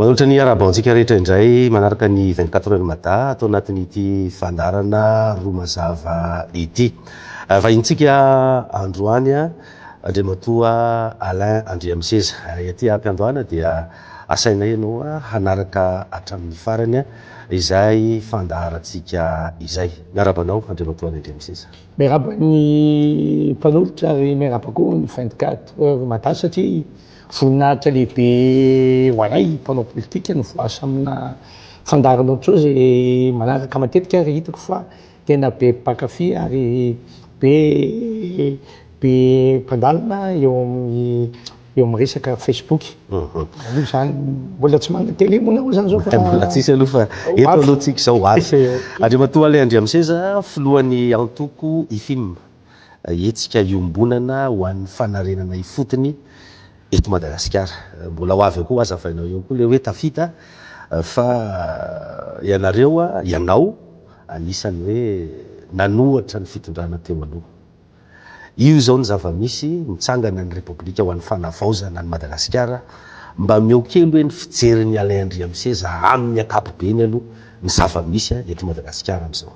Manolotra ny harabo antsika rehetra indray manaraka ny vingt quatre heures Mada ato anatin'ity fandaharana roa mazava ity. Vahintsika androany Andriamatoa Alain Andriamiseza. Ety ampiandohana dia asainay ianao hanaraka hatramin'ny farany izay fandaharantsika izay. Miarahaba anao Andriamatoa Alain Andriamiseza. Miarahaba ny mpanolotra ary miarahaba koa ny vingt quatre heures mada satria voninahitra lehibe ho anay mpanao politika ny voice amina fandaharan'olon-tsoa izay manaraka matetika ary hitako fa tena be mpankafy ary be be mpandalina eo amin'ny eo amin'ny resaka Facebook. Aloha izany, mbola tsy manana télé moa nareo izany izao fa. Mbola tsisy aloha fa eto aloha tsika izao ho avy. Andriamatoa Alain Andriamiseza, filohan'ny antoko Ifim, hetsika iombonana ho an'ny fanarenana ifotony eto Madagasikara. Mbola ho avy eo koa, hazavainao eo koa ilay hoe tafita fa ianareo, ianao anisan'ny hoe nanohatra ny fitondrana teo aloha. Io izao ny zava-misy, mitsangana ny Repoblika ho an'ny fanavaozana an'i Madagasikara, mba ameo kely hoe ny fijerin'i Alain Andriamiseza amin'ny ankapobeny aloha ny zava-misy eto Madagasikara amin'izao.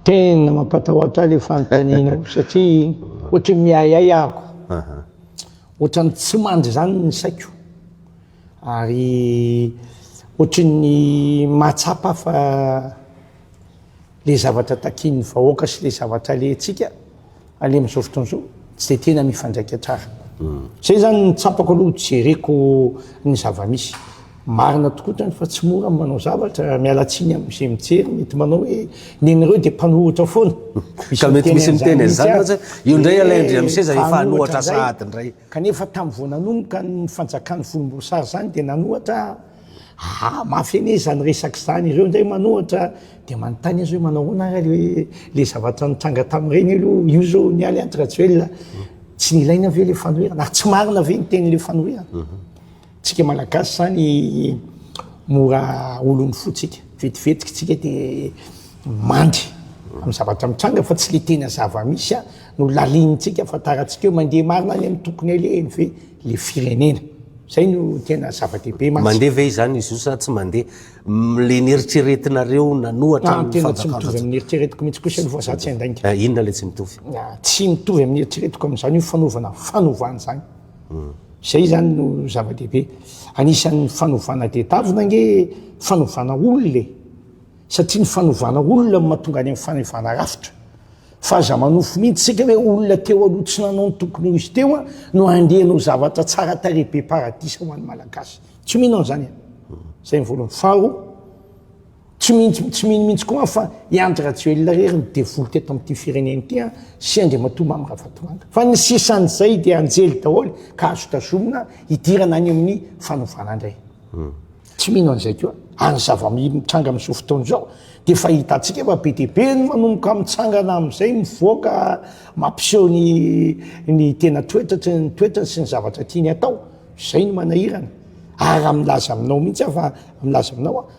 Tena mampatahotra ahy ilay fanontanianao satria ohatran'ny miahiahy ahiko, ohatran'ny tsy mandry izany ny saiko ary ohatran'ny mahatsapa fa le zavatra takian'ny vahoaka sy le zavatra alehantsika aleha amin'izao fotoana izao tsy dia tena mifandraika tsara. Izay izany no tsapako aloha no jereko ny zava-misy. Marina tokoa izany fa tsy mora ny manao zavatra, miala tsiny amin'izay mijery mety manao hoe ny anareo dia mpanohitra foana, misy miteny an'izany mihitsy aza, ee mpanohitra indray! Kanefa tamin'ny vao nanomboka ny fanjakan'ny volomboasary izany dia nanohatra aho, ah mafy anie izany resaka izany, ireo indray manohatra dia manontany azy hoe manao ahoana ary ilay ilay zavatra nitranga tamin'ireny aloha, io izao nialy an-dRajoelina tsy nilaina ve ilay fanoherana ary tsy marina ve ny tenin'ilay fanoherana? Tsika malagasy zany mora olon'ny fo tsika, vetivetika tsika de mandry am zavatra mitranga fa tsy le tena zavamisy a no lalinintsika afantarantsika eo, mandeha marina any am tokony alehany ve le firenena, zay no tena zavadehibe mantsy. Mandeha ve izany izy io sa tsy mandeha? le neritreretinareo nanohatra ny fanjakana zany. Tena tsy mitovy am neritreretiko mintsy kosa aloha fa za tsy handainga. Inona le tsy mitovy? Tsy mitovy am neritreretiko amzany io fanaovana fanovana zany. Izay izany no zava-dehibe. Anisan'ny fanovana tedavina ange fanovana olona e! Satria ny fanovana olona no mahatonga any amin'ny fanivana rafitra. Fa aza manofy mihitsy isika hoe olona teo aloha tsy nanao ny tokony ho izy teo no handeha hanao zavatra tsara tarehy be paradisa ho an'ny Malagasy. Tsy mino an'izany aho. Izay ny voalohany. Faharoa. Tsy mino tsy mino mihitsy koa aho fa i Andry Rajoelina irery no devoly teto amin'ity firenena ity an, sy Andriamatoa Mamy Ravatomanga. Fa ny sisan'izay dia anjely daholo ka azo tazomina hidirana any amin'ny fanovana indray. Tsy mino an'izay koa ary ny zava-mitranga amin'izao fotoana izao dia efa hitantsika fa be dia be ny manomboka mitsangana amin'izay mivoaka mampiseho ny ny tena toetra ny toetrany sy ny zavatra tiany hatao. Izay no manahirana. Ary raha milaza aminao mihitsy aho fa milaza aminao aho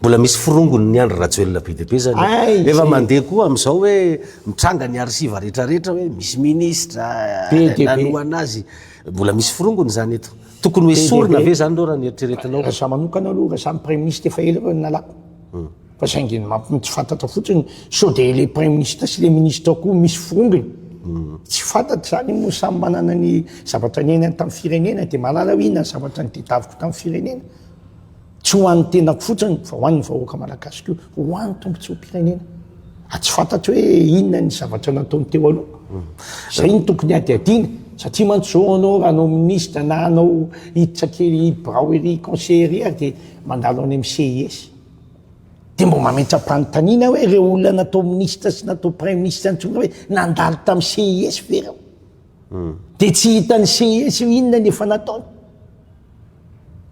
Mbola misy forongony ny Andry Rajoelina be dia be zany. Efa mandeha koa amin'izao hoe mitranga ny arsiva rehetra rehetra hoe misy ministra nanohana azy. Mbola misy forongony izany eto. Tokony ho esorina ve izany ireo raha ny eritreretinao? Raha izaho manokana aloha, raha izaho no praiminisitra efa ela ireo no nalako. Hmm. Fa saingy ny tsy fantatra fotsiny sao dia ilay praiminisitra sy ilay ministra koa misy forongony. Hmm. Tsy fantatra izany moa samy manana ny zavatra niainany tamin'ny firenena dia mahalala hoe inona ny zavatra nitadiaviko tamin'ny firenena. Tsy ho an'ny tenako fotsiny fa ho an'ny vahoaka malagasy koa, ho an'ny tombontsoam-pirenena. Raha tsy fantatro hoe inona ny zavatra nataony teo aloha, izay no tokony hadihadiana. Satria mantsy izao ianao raha hanao minisitra na hanao hiditra kely birao ery conseiller ery ary dia mandalo any amin'ny CIS. Dia mba mametra-panontaniana aho hoe ireo olona natao minisitra sy natao praiminisitra intsony hoe nandalo tamin'ny CIS ve ireo? Dia tsy hitan'i Seesy hoe inona ny efa nataony,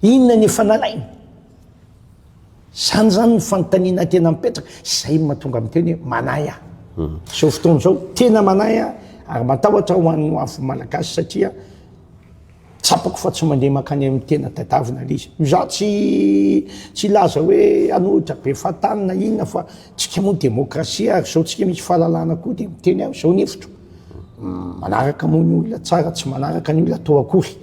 inona ny efa nalainy. Izany izany ny fanontaniana tena mipetraka, izay no mahatonga miteny hoe manahy aho. Hmm. Izao fotoana izao, tena manahy aho, ary matahotra ho an'ny ho avin'ny Malagasy satria Tsapako fa tsy mandeha mankany amin'ny tena tadiaviny ilay izy. Izaho tsy tsy hilaza hoe hanohitra be fahatany na inona fa tsika moa demokrasia ary izao tsika misy fahalalana koa dia miteny aho izao ny hevitro. Manaraka moa ny olona tsara tsy manaraka ny olona atao akory.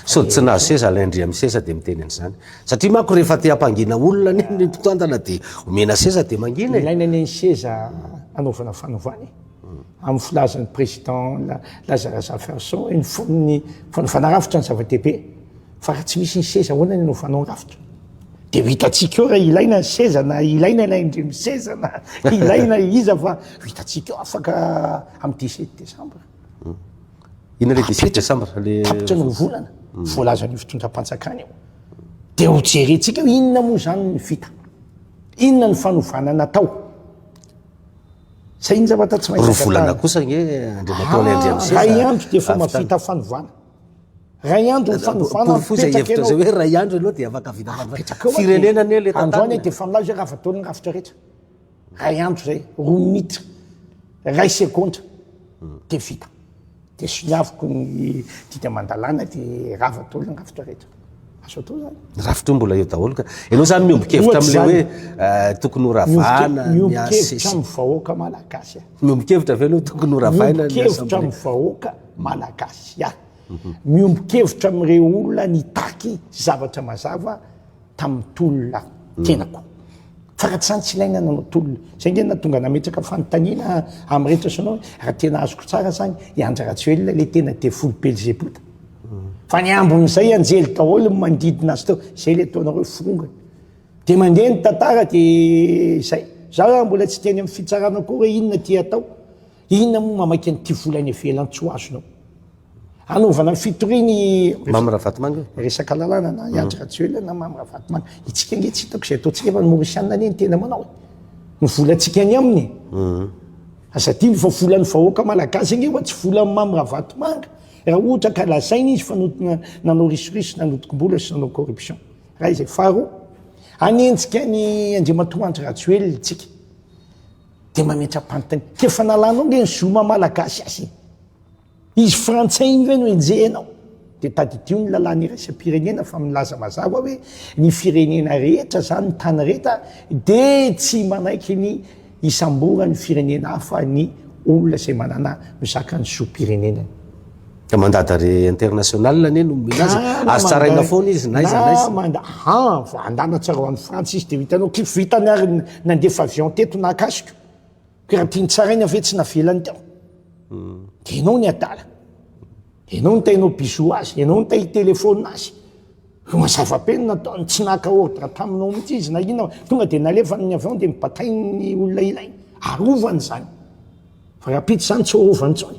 Sody tsy nahazo seza Alain Ndry amin'ny sesa dia miteny an'izany. Satria manko rehefa te hampangina olona anie ny mpitantana dia omena seza dia mangina e. Ilaina anie ny seza hanaovana fanovana e. Amin'ny filazan'ny Président Lazarus Zaferson hoe ny fon'ny fanofana rafitra no zava-dehibe fa raha tsy misy ny seza ahoana no hanofanao rafitra? Dia ho hitantsika eo raha ilaina ny seza na ilaina ilay indrindra seza na ilaina iza fa ho hitantsika eo afaka amin'ny dix sept décembre. Inona ilay dix sept décembre? Tapitra ny roa volana voalazan'io fitondram-panjakana io. Dia ho jerentsika hoe inona moa izany no vita? Inona ny fanovana natao? Zay ny zavatra tsy maintsy Roa volana kosa ange Andriamatoa Alain Andriamiseza. Ray andro dia efa mavita fanovana. Ray andro ny fanovana mipetraka ianao. Hevitra zay hoe ray andro ianao dia afaka vita fanovana. Firenena anie le tantara. Androany dia efa milaza hoe raha vataon'ny rafitra rehetra. Ray andro zay, roa minitra, ray segondra dia vita. Dia soniaviko ny dika aman-dalàna dia rava daholo ny rafitra rehetra. Azo atao izany. Ny rafitra io mbola eo daholo ka. Ianao izany miombon-kevitra amin'ilay hoe tokony ho ravana ny asa. Miombon-kevitra amin'ny vahoaka malagasy aho. Miombon-kevitra ve ianao tokony ho ravaina ny asa? Miombon-kevitra amin'ny vahoaka malagasy aho. Miombon-kevitra amin'ireo olona nitaky zavatra mazava. tamin'ny tolona tenako faraty zany tsy ilaina nanao tolona zay nge natonga nametraka fanontaniana amin'ny rehetra sonao raha tena azoko tsara zany i Andry Rajoelina le tena devoly belzebota fa ny ambin'izay anjely daholo manodidina azy teo zay le ataonareo forongany de mandeha ny tantara de zay za raha mbola tsy teny amin'ny fitsarana koa hoe inona ty atao Inona moa mamaky an'ity vola any ivelany tsy ho azonao? Hanaovana ny fitoriana i Mamy Ravatomanga e. Resaka lalàna na i Andry Rajoelina na Mamy Ravatomanga. Itsika ange tsy hitako izay ataontsika efa ny Maorisianina anie ny tena manao e. Ny volantsika any aminy e. Aza adino fa volan'ny vahoaka malagasy ange fa tsy volan'i Mamy Ravatomanga raha ohatra ka lazaina izy fa nanao risoriso, nanodinkom-bola sy nanao corruption. Iray izay. Faharoa, hanenjika an'i Andriamatoa Andry Rajoelina itsika. de mametra-pantiny de efa nalanao nge ny zo maha malagasy azy iny izy frantsay iny ve no enjehinao de tadidio ny lalàna iraisam-pirenena fa milaza mazava hoe ny firenena rehetra zany ny tany rehetra de tsy manaiky ny hisamboran'ny firenena hafa ny olona izay manana mizaka ny zom-pirenenany Ka mandat d'arrêt international anie no mila azy. Azo tsaraina foana izy na iza na iza. Manda ha ah, andana tsara any France izy dia vitanao. Kif vitany ary nandefa avion teto nahakasiko. Ka raha tiany tsaraina ve tsy navelany tao. Hmm. Dia ianao ny adala. Dia ianao ny tainao bisou azy, ianao ny tay téléphone azy. Eo zava-peno nataony, tsy naka ordre taminao mihitsy izy na inona. Tonga dia nalefany ny avion dia mibatainy ny olona ilainy. Arovany izany. Fa rahampitso izany tsy ho rova intsony.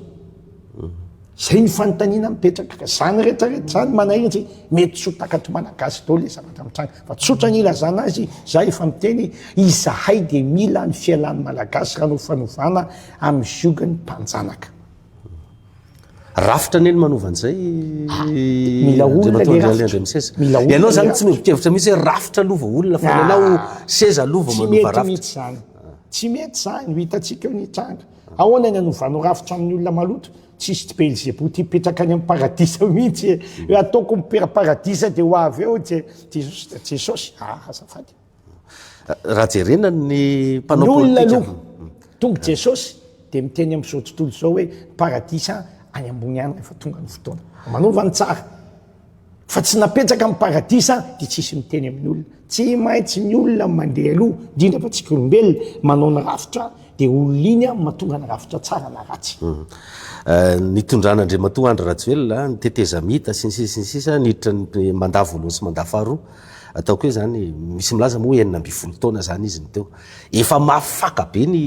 Izay ny fanontaniana mipetraka. Ka izany rehetra rehetra izany manahirana satria mety tsy ho takatr'i Malagasy daholo ilay zavatra mitranga. Fa tsotra ny ilazana azy, izaho efa miteny, izahay dia mila ny fialan'ny Malagasy raha hanao fanovana amin'ny ziogan'ny mpanjanaka. Rafitra anie ny manova an'izay Andriamatoa Andrialy Andriamiseza. Ianao izany tsy mihevi-kevitra mihitsy hoe rafitra aloha vao olona fa ianao seza aloha vao manova rafitra. Tsy mety izany, ho hitantsika eo ny tranga. Ahoana ny hanovanao rafitra amin'ny olona maloto? Tsisy tsy Belzebou tia mipetraka any amin'ny paradisa mihitsy e! Hoe ataoko mipera-paradisa dia ho avy eo Jesosy. Jesosy, ah azafady. Raha jerena ny mpanao politika. Ny olona aloha. Tonga Jesosy dia miteny amin'izao tontolo izao hoe paradisa any ambony any rehefa tonga ny fotoana. Manova ny tsara. Fa tsy napetraka amin'ny paradisa dia tsisy miteny amin'ny olona. Tsy maintsy ny olona mandeha aloha, indrindra fa tsika olombelona, manao ny rafitra dia olona iny no mahatonga ny rafitra tsara na ratsy. Nitondran' Andriamatoa Andry Rajoelina ny tetezamita sy ny sisa sy ny sisa niditra ny mandat voalohany sy mandat faharoa. Ataoko hoe izany, misy milaza moa hoe enina ambin'ny folo taona izany izy no teo. Efa mafy faka be ny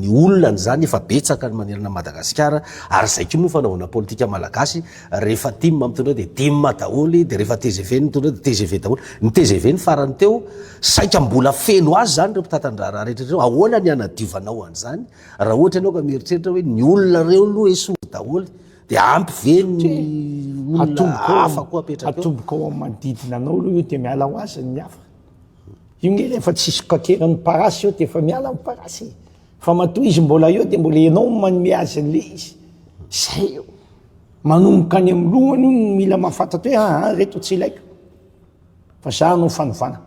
ny olona an'izany, efa betsaka ny manerana an'i Madagasikara, ary izay koa moa ny fanaovana politika malagasy, rehefa tim mitondra dia tim daholo, dia rehefa tgv no mitondra dia tgv daholo. Ny tgv ny farany teo, saika mbola feno azy izany ireo mpitantan-draharaha rehetra ireo, ahoana ny hanadiovanao an'izany raha ohatra ianao ka mieritreritra hoe ny olona ireo aloha esory daholo, Dia ampy ve ny olona hafa koa apetraka eo? Atomboka ao amin'ny manodidina anao aloha io dia miala ho azy ny hafa. Io nge rehefa tsy sokakeran'ny parasy eo dia efa miala ny parasy e. Fa matoa izy mbola eo dia mbola ianao no manome azy an'ilay izy. Izay eo. Manomboka any amin'ny lohany io no mila mahafantatra hoe aa ah, reto tsy ilaiko. Fa za hanao fanovana.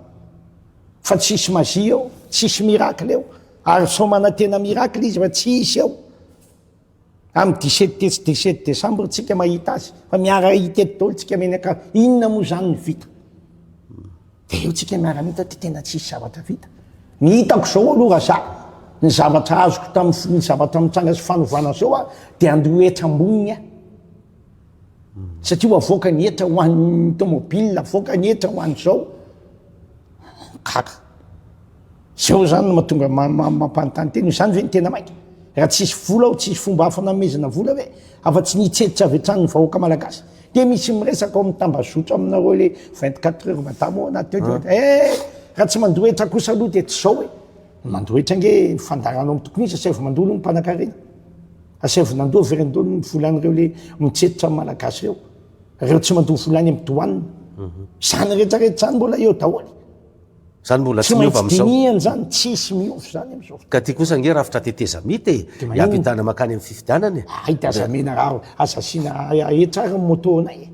Fa tsisy magie ao, tsisy miracle ao. Ary sao manantena miracle izy fa tsy hisy ao. Am dix sept tetsy dix sept décembre tsika mahita azy fa miara hitety daholo tsika mianakavy inona moa zany ny vita de eo tsika miara mita ty tena tsisy zavatra vita ny hitako zao aloha raha za ny zavatra azoko tamin'ny firy zavatra mitranga sy fanovana zao a de andeha ho hetra amboniny a satria ho avoaka ny hetra ho an'ny tomobile avoaka ny hetra ho an'izao kaka Zao zany no matonga mampanontany tena hoe zany ve ny tena maika? Raha tsy hisy vola ao tsy hisy fomba hafa namehezana vola ve afa tsy ny hitseditra avy hatrany ny vahoaka malagasy? Dia misy miresaka ao amin'ny tambazotra aminareo le 24 heures madama ao anaty teo dia ohatra eh raha tsy mandoa hetra kosa aloha dia tsy zao e! Mandoa hetra ange ny fandaharana ao amin'ny tokony hisy asaivo mandoa aloha ny mpanakarena. Asaivo nandoa very andoha ny volan'ireo le mitseditra ny malagasy ireo. Ireo tsy mandoa vola any amin'ny douane. Zany retraretra zany mbola eo daholo. Zany mbola tsy miova amizao. Tsy maintsy dinihana zany, tsisy miova zany amizao fotoana. Ka ty kosa ange rafitra tetezamita e, hiampitana makany am fifidianana e. Hay de aza amena rano, aza asiana hetra ary ny moto anay e.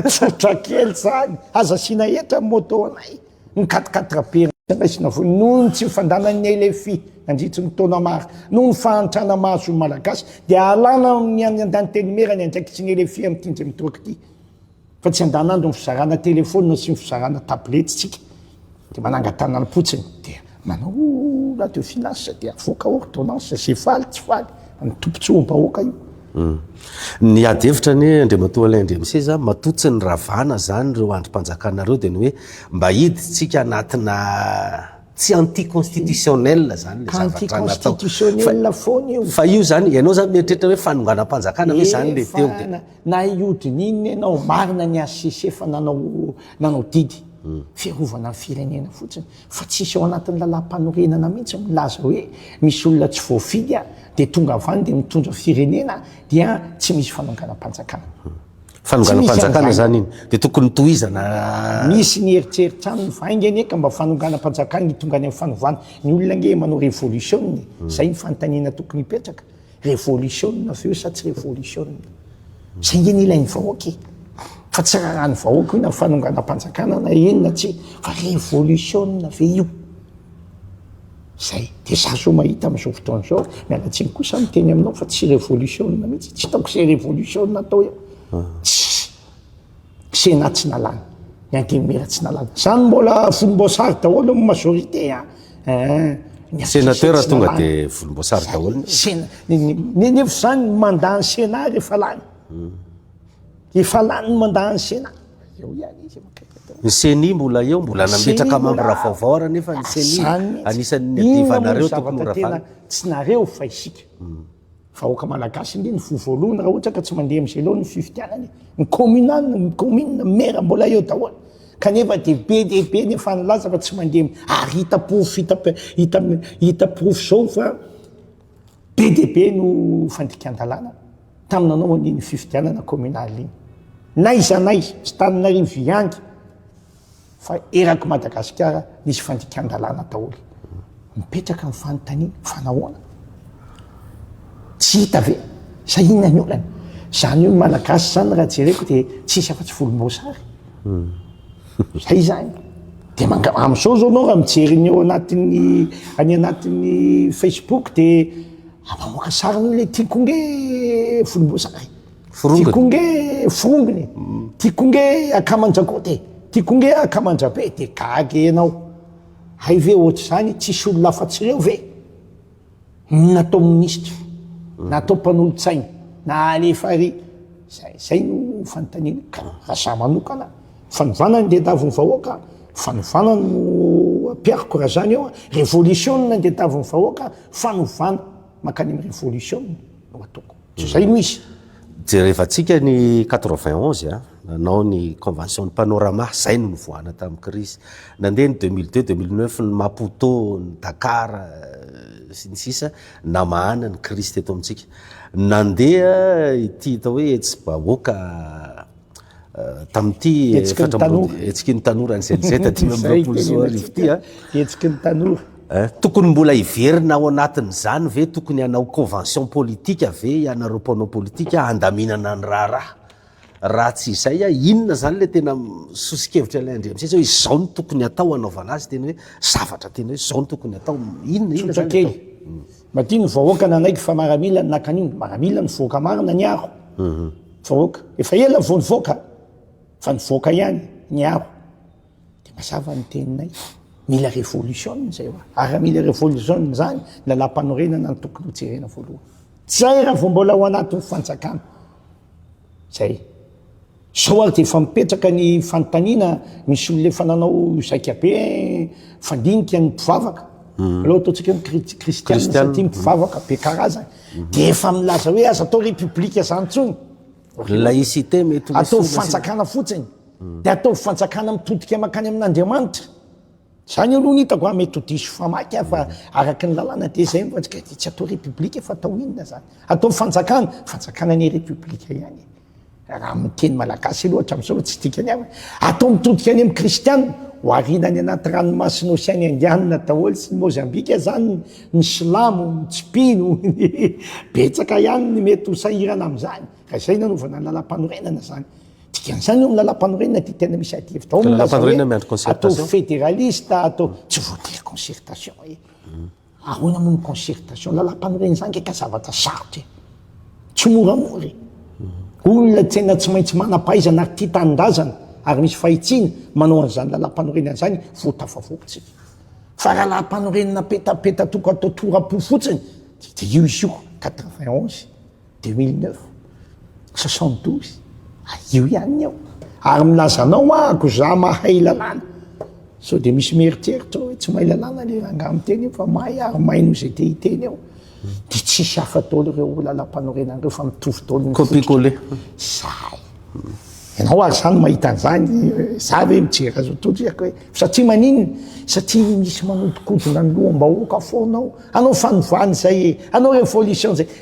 Tsotra kely zany, aza asiana hetra ny moto anay, ny quatre quatre be raisina foana, noho ny tsy nifandanan'ny LFI nandritry ny taona maro, noho ny fahantrana mahazo ny malagasy dia alana amin'ny an'ny antenimera ny andraikitry ny LFI amty indray mitoraka ity. Fa tsy andanandro ny fizarana telephone sy ny fizarana tablette tsika de manangatana ny potsiny de manao oh radio finance de avoaka ordonnance ze faly tsy faly ny tompotsoam bahoaka io hmm. Ny ady hevitra anie Andriamatoa Alain Andriamiseza matoa tsy ny ravana zany ireo andrim-panjakana ireo de ny hoe mba hiditsika anatina tsy anti constitutionnel zany anti constitutionnel foana io fa io zany ianao zany mieritreritra hoe fanonganam-panjakana hoe zany le teo de Na hiodin'inona ianao, marina ny HCC fa nanao nanao didy fiarovana ny firenena fotsiny fa tsisy ao anatin'ny lalam-panorenana mihitsy milaza hoe misy olona tsy voafidy dia tonga avy any dia mitondra firenena dia tsy misy fanonganam-panjakana. Fanonganam-panjakana izany iny dia tokony tohizana. Misy ny eritreritra aminy fa ainga anie ka mba fanonganam-panjakana hitongany amin'ny fanovana. Ny olona ange manao revolisiona e. Izay ny fanontaniana tokony hipetraka. Revolisiona ve io sa tsy revolisiona? Zay nge ny ilain'ny vahoaka e! Fa tsy raran'ny vahoaka io na fanonganam-panjakana na inona tsy fa revolisiona ve io? Zay. Dia za zao mahita amin'izao fotoana izao, miala tsiny koa sa miteny aminao fa tsy revolisiona mihitsy, tsy hitako izay revolisiona atao eo. Tsisy. Sénat tsy nalana, ny Antenimiera tsy nalana. Zany mbola volomboasary daholo ny majorité a. Hein. Ny sénateur tonga de volomboasary daholo. Nenefa zany ny mandat ny Sénat rehefa lany. Hmm. Efa lany ny mandat ny Sénat. Eo ihany izy. Ny CENI mbola eo, mbola nametraka membre vaovao ary nefa ny CENI anisan'ny adivanareo tokony ho ravana. Tsy nareo fa isika. Hmm. Vahoaka malagasy anie ny voa voalohany raha ohatra ka tsy mandeha amin'izay loha ny fifidianana e. Ny communal, ny commune, ny maire mbola eo daholo. Kanefa dia be dia be ny efa nilaza fa tsy mandeha am-, ary hita porofo, hita, hita, hita porofo zao fa be dia be no fandikan-dalàna tamin'ny nanaovany iny fifidianana communal iny. N'aiza n'aiza, tsy tanin'Arivo ihany. fa erak'i Madagasikara misy fandikan-dalàna daholo. Mipetraka ny fanontaniana fa nahoana? Tsy hita ve? Sa inona ny olana? Izany hoe ny Malagasy izany raha jereko dia tsisy afa-tsy volomboasary. Izay izany. Dia manga- amin'izao izao ianao raha mijery ny ao anatin'ny any anatin'ny Facebook dia mamoaka sariny hoe ilay tiako nge volomboasary. Forongony. Tiako nge forongony. Tiako nge akamanjakote. Tiako nge akamanjabe de gaga ianao. Hay ve ohatr'izany tsisy olona afa-tsy ireo ve no natao minisitra, natao mpanolotsaina, na alefa ary. Zay zay no fanontaniana. Ka raha za manokana fanovana ny diadavin'ny vahoaka, fanovana no ampihariko raha zany eo a. Revolisiona ny diadavin'ny vahoaka, fanovana mankany amin'ny revolisiona no ataoko. Izay no izy. Jerevantsika ny quatre-vingt onze a, nanao ny convention ny Panorama, izay no nivoahana tamin'ny crise. Nandeha ny deux mille deux, deux mille neuf, ny Maputo, ny Dakar, sy ny sisa, namahana ny crise teto amintsika. Nandeha ity atao hoe hetsi-bahoaka. Tamin'ity Hetsiky ny tanora. Hetsiky ny tanora ny CLZ dimy amby roapolo sy roa arivo ity a. Hetsiky ny tanora. Tokony mbola hiverina ao anatin'izany ve, tokony hanao convention politique ve ianareo mpanao politique handaminana ny raharaha? Raha tsy izay a, inona izany ilay tena soso-kevitra ilay Andriamisesa hoe izao no tokony hatao hanaovana azy, tena hoe zavatra tena hoe izao no tokony hatao, inona, inona izany atao? Maty ny vahoaka nanaiky fa maramila ny nakaniny. Maramila ny voaka marina niaro vahoaka. Efa ela vao nivoaka fa nivoaka ihany niaro. Dia mazava ny teninay. Mila révolution izay hoa. Ary raha mila révolution izany, ny lalam-panorenana no tokony hojerena voalohany. Tsy hay raha vao mbola ao anatin'ny fanjakana. Zay. Zao ary dia efa mipetraka ny fanontaniana, misy olona efa nanao zaika be fandinika ny mpivavaka, aleo ataontsika hoe ny kristiana satria mpivavaka be karazany, dia efa milaza hoe aza atao repoblika zany intsony, Laïcité mety ho misy. Ataovy fanjakana fotsiny, dia ataovy fanjakana mitodika mankany amin'Andriamanitra. Zany aloha ny hitako a, mety ho diso famaky aho fa araka ny lalàna dia izay ny voantsika dia tsy atao repoblika fa atao inona zany? Atao fanjakana? Fanjakana anie repoblika ihany e! Raha amin'ny teny malagasy aloha hatramin'izao aloha tsy dikany aho e! Atao mitodika any amin'ny kristianina, ho ariana any anaty ranomasin'ny oseany indianina daholo sy ny mozambika zany ny silamo, ny tsy mpino, betsaka ihany ny mety ho sahirana amin'izany raha izay no hanaovana ny lalàmpanorenana zany. Dikan'izany eo amin'ny lalampanorenana ity tena misy adihevitra ao amin'ny milaza hoe atao federalista, atao tsy voatery concertation e. Ahoana moa ny concertation? Lalampanorenana izany nge ka zavatra sarotra e. Tsy moramora e. Olona tena tsy maintsy manam-pahaizana ary tia tanindrazana ary misy fahitsiana manao an'izany lalampanorenana izany vao tafavoakantsika. Fa raha lalampanorenana petapeta tokana atao tora-po fotsiny dia io isioko quatre-vingt onze. Deux mille neuf, soixante douze, io ihany ny eo. Ary milaza anao aho ko za mahay lalàna. Sao dia misy mieritreritra hoe tsy mahay lalàna le rangahy miteny io fa mahay ary mahay noho izay te hiteny eo. Dia tsisy hafa daholo ireo lalampanorenana ireo fa mitovy daholo ny Copie coller. Zay. Ianao ary zany mahita an'izany, za ve mijery azy ho todriaka hoe satria maninona? Satria misy manodikodina ny loham-bahoaka foana ao. Hanao fanovana izay e, hanao révolution izay.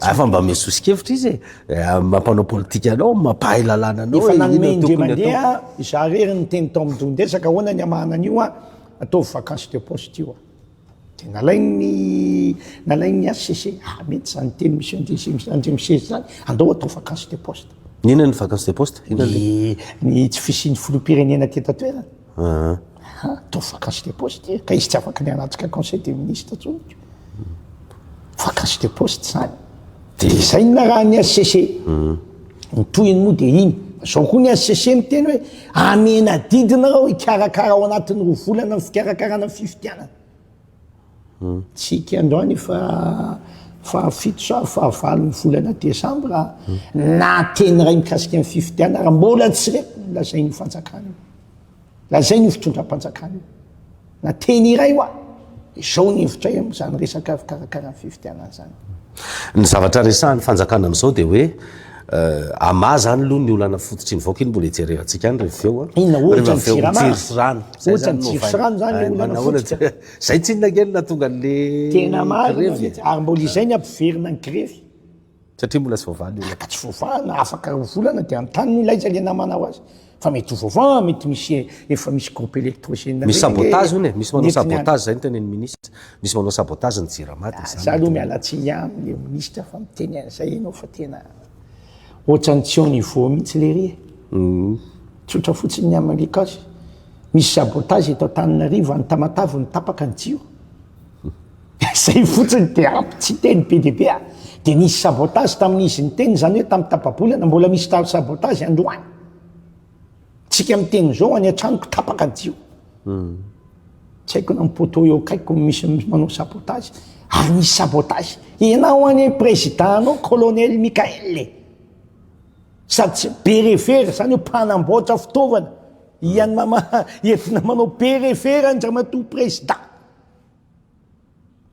Hafa mba ome soso-kevitra izy e, mampanao politika anao, mampahay lalàna anao e. Efa nanome indray mandeha izaho irery niteny tao amin'ny dohan-dresaka ahoana ny hamahana an'io a, ataovy vacance de poste io a. Dia nalain'ny nalain'ny HCC, ah mety izany niteny Monsieur Andriamiseza Andriamiseza izany, andao atao vacance de poste. Inona ny vacance de poste? Ny ny tsy fisian'ny filoham-pirenena aty an-tantoerana. Atao vacance de poste ity e, ka izy tsy afaka ny hanatrika conseil des ministres intsony ko. Vacance de poste zany. De izay no narahan'ny HCC. Ny tohiny moa dia iny. Zao koa ny HCC miteny hoe amena adidy nareo hikarakara ao anatin'ny roa volana ny fikarakarana ny fifidianana. Tsika androany efa fahafito sa fahavalon'ny volana desambra na teny iray mikasika ny fifidianana ary mbola tsy re lazain'io fanjakana io, lazain'io fitondram-panjakana io na teny iray hoa izao ny hevitray amin'izany resaka fikarakarana fifidianana izany. Ny zavatra resahan'ny fanjakana amin'izao dia hoe. Ama zany aloha ny olana fototry ny vaoka iny mbola hijerevantsika any rehefa avy eo a. Inona ohatra ny jirama? Rehefa avy eo ny jiro sy rano. Ohatra ny jiro sy rano zany le olana fototra. Zay tsinona kely nahatonga anle grevy e. Tena marina mintsy, ary mbola izay ny hampiverina ny grevy. Satria mbola tsy voavaha le olana. Ka tsy voavaha na afaka roa volana de anontany no ilay izay le namana ho azy. Fa mety ho vaovao, mety misy efa misy groupe électrogène reny. Misy sabotage hono e, misy manao sabotage zay ny tenenin'ny ministra, misy manao sabotage ny Jirama dia zany. Za aloha miala tsiny aminy le ministra fa miteny an'izay ianao fa tena ohatrany tsy au niveau mihitsy lery e. Tsotra fotsiny ny amin'ny cas. Misy sabotage eto Antananarivo, any Tamatave no tapaka ny jiro. Zay fotsiny de ampy tsy teny be dia be a! De nisy sabotage tamin'ny izy niteny izany hoe tamin'ny tapabolana, mbola misy ta sabotage androany! Tsika miteny zao any an-tranoko tapaka jio! Tsy haiko na ny poteau eo akaikiko misy manao sabotage! Ary nisy sabotage! Ianao anie président anao colonel Mickaël e! Sady tsy be refera, izany hoe mpanamboatra fitaovana, ian'ny mama entina manao be refera an-dramatoa président!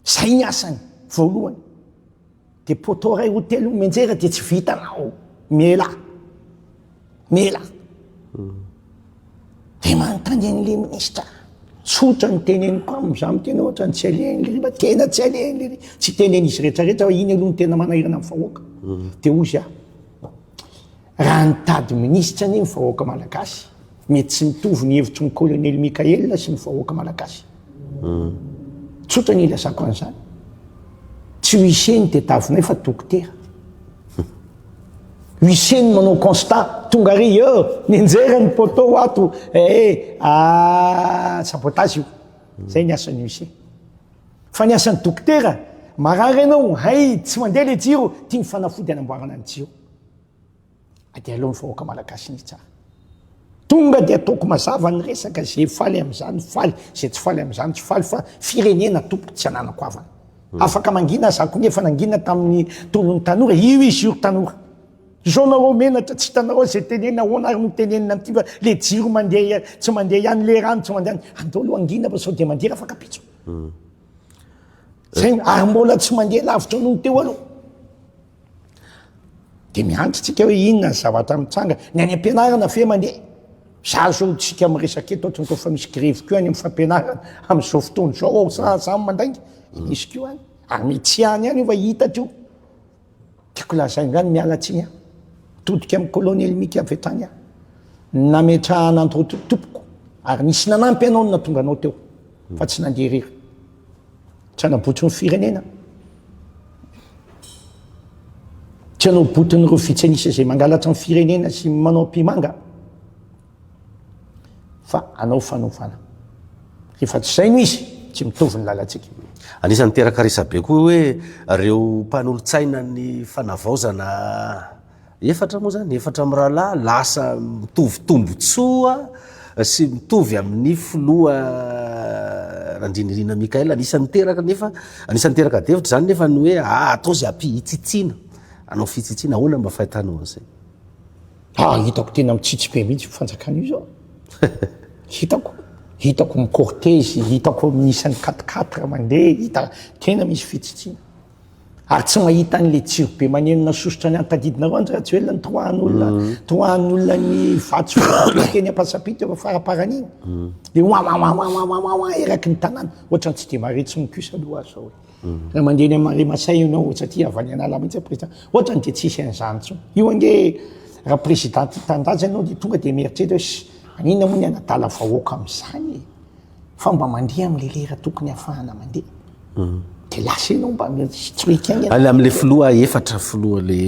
Zay ny asany voalohany. Dia poteau iray roa telo menjera dia tsy vitanao. Miela. Miela. Hmm. Dia manontany an'ilay minisitra. Tsotra ny teneniko aminy, za amin'ny tena ohatra ny tsy alehan'ilay mba tena tsy alehan'ilay tsy tenen'izy rehetrarehetra hoe iny aloha ny tena manahirana amin'ny vahoaka. Hmm. Dia hoy za, Raha nitady minisitra anie ny vahoaka malagasy, mety tsy mitovy ny hevitry ny Colonel Mickaël sy ny vahoaka malagasy. Tsotra ny ilazako an'izany. Tsy huissier ny tetavinay fa dokotera. Huissier ny manao constat, tonga ary eo, nenjera ny poteau ato, eh, ah, sabotage io. Zay ny asan'ny huissier. Fa ny asan'ny dokotera, marary ianao, hay, tsy mandeha le jiro, tiany fanafody anamboarana ny jiro. dia aleo ny vahoaka malagasy ny hitsara. Tonga dia ataoko mazava ny resaka, izay faly amin'izany faly, izay tsy faly amin'izany tsy faly, fa firenena tompoko tsy ananako havana. Hmm. Afaka mangina aza akory efa nangina tamin'ny tolon'ny tanora, io izy io tanora. Izao nareo menatra tsy hitanareo izay tenenina ahoana ary no tenenina an'ity fa le jiro mandeha tsy mandeha ihany, le rano tsy mandeha ihany. Andao aloha hangina fa sao dia mandeha afaka pitso. Hmm. Zay ary mbola tsy mandeha lavitra noho ny teo aloha. Dia miandry tsika hoe inona ny zavatra mitranga. Ny any am-pianarana ve mandeha? Za zao no tsika miresaka eto, ohatran'ny rehefa misy grevy koa any amin'ny fampianarana amin'izao fotoana izao ao sa za mandainga? Misy koa any. Ary mety tsy any ihany io fa hita teo. Tiako lazaina ihany miala tsiny aho. Todika amin'ny kolonely Mika avy hatrany aho. Nametrahana an'ireo tompoko ary nisy nanampy anao no nahatonga anao teo fa tsy nandeha irery. Tsy hanabotry ny firenena. Tsy hanabotin'ireo vitsy an'isa izay mangalatra ny firenena sy manao ampimanga. Fa hanao fanovana. Rehefa tsy izay no izy, tsy mitovy ny lalantsika. Anisan'ny miteraka resabe koa hoe ireo mpanolotsaina ny fanavaozana Efatra moa zany, efatra mirahalahy lasa mitovy tombotsoa sy mitovy amin'ny filoha Randrianirina Michael. Anisan'ny niteraka nefa, anisan'ny niteraka adihevitra zany nefa ny hoe ah atao zay ampy hitsitsiana, hanao fitsitsiana, ahoana mba fahitanao an'izay? Ah, hitako tena mitsitsy be mihitsy io fanjakana io zao. Hitako, hitako mi-cortège, hitako miisa ny quatre quatre mandeha, hita tena misy fitsitsiana. ary tsy mahita an'ilay jiro be manenona sosotra ny antadidinareo Andry Rajoelina nitoahan'olona mm. toahan'olona ny vato teny ampasampita eo faraparany iny mm. de wawawawawawawaa eraky ny tanàna ohatra ny tsy de mare tsy mikusa aloha azy zao mm. raha mandeha ny mare masay ianao satria avy any an'ala mihitsy président ohatra ny de tsisy an'izany tsony io ange raha président tanindrazana ianao de tonga de mieritreritra hoe anina moa ny anadala vahoaka amin'izany e fa mba mandeha amle lera tokony hafahana mandeha de lasa enao mba tsy mety aigny any amle filoha efatra filoha le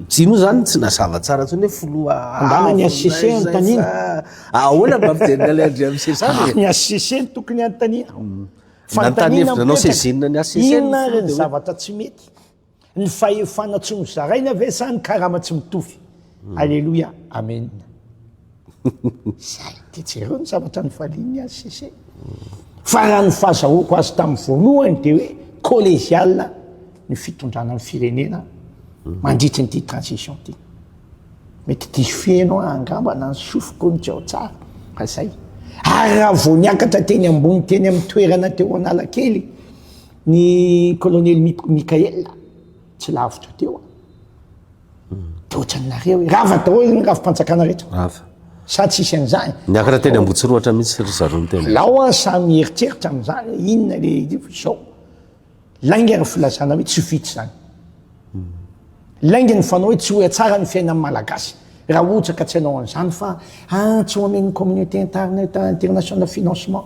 tsy moa zany tsy nazava tsara tsony hoe filoha angamba ny HCC anontaniana ahoana mba fijery ale andri amse zany e ny HCC no tokony anontaniana fanontaniana mipetraka inona ary ny zavatra tsy mety Ny fahefana tsy nozaraina ve sa ny karama tsy mitovy? Aleloia, Amen. Zay, de jereo ny zavatra nifalian'ny HCC. Fa raha ny fahazahoako azy tamin'ny voalohany dia hoe collégial ny fitondrana ny firenena mandritry ny ity transition ity. Mety diso fiheno aho angamba na ny sofiko no tsy ao tsara, fa zay. Ary raha vao niakatra teny ambony teny amin'ny toerana teo Analakely, Ny Kolonely Mickael, tsy lavitra teo an. Dia ohatran'ny nareo hoe rava daholo ny rafi-panjakana rehetra. Rava. Sa tsy hisy an'izany? Niakatra teny Ambohitsirohatra mihitsy ry zareo ny tena. Alao an, samy mieritreritra amin'izany hoe inona ilay izao. Lainga ny filazana hoe tsy vita izany. Lainga ny fanao hoe tsy ho tsara ny fiainan'ny Malagasy raha ohatra ka tsy hanao an'izany fa ah tsy ho amen'ny communauté intarneta international financement.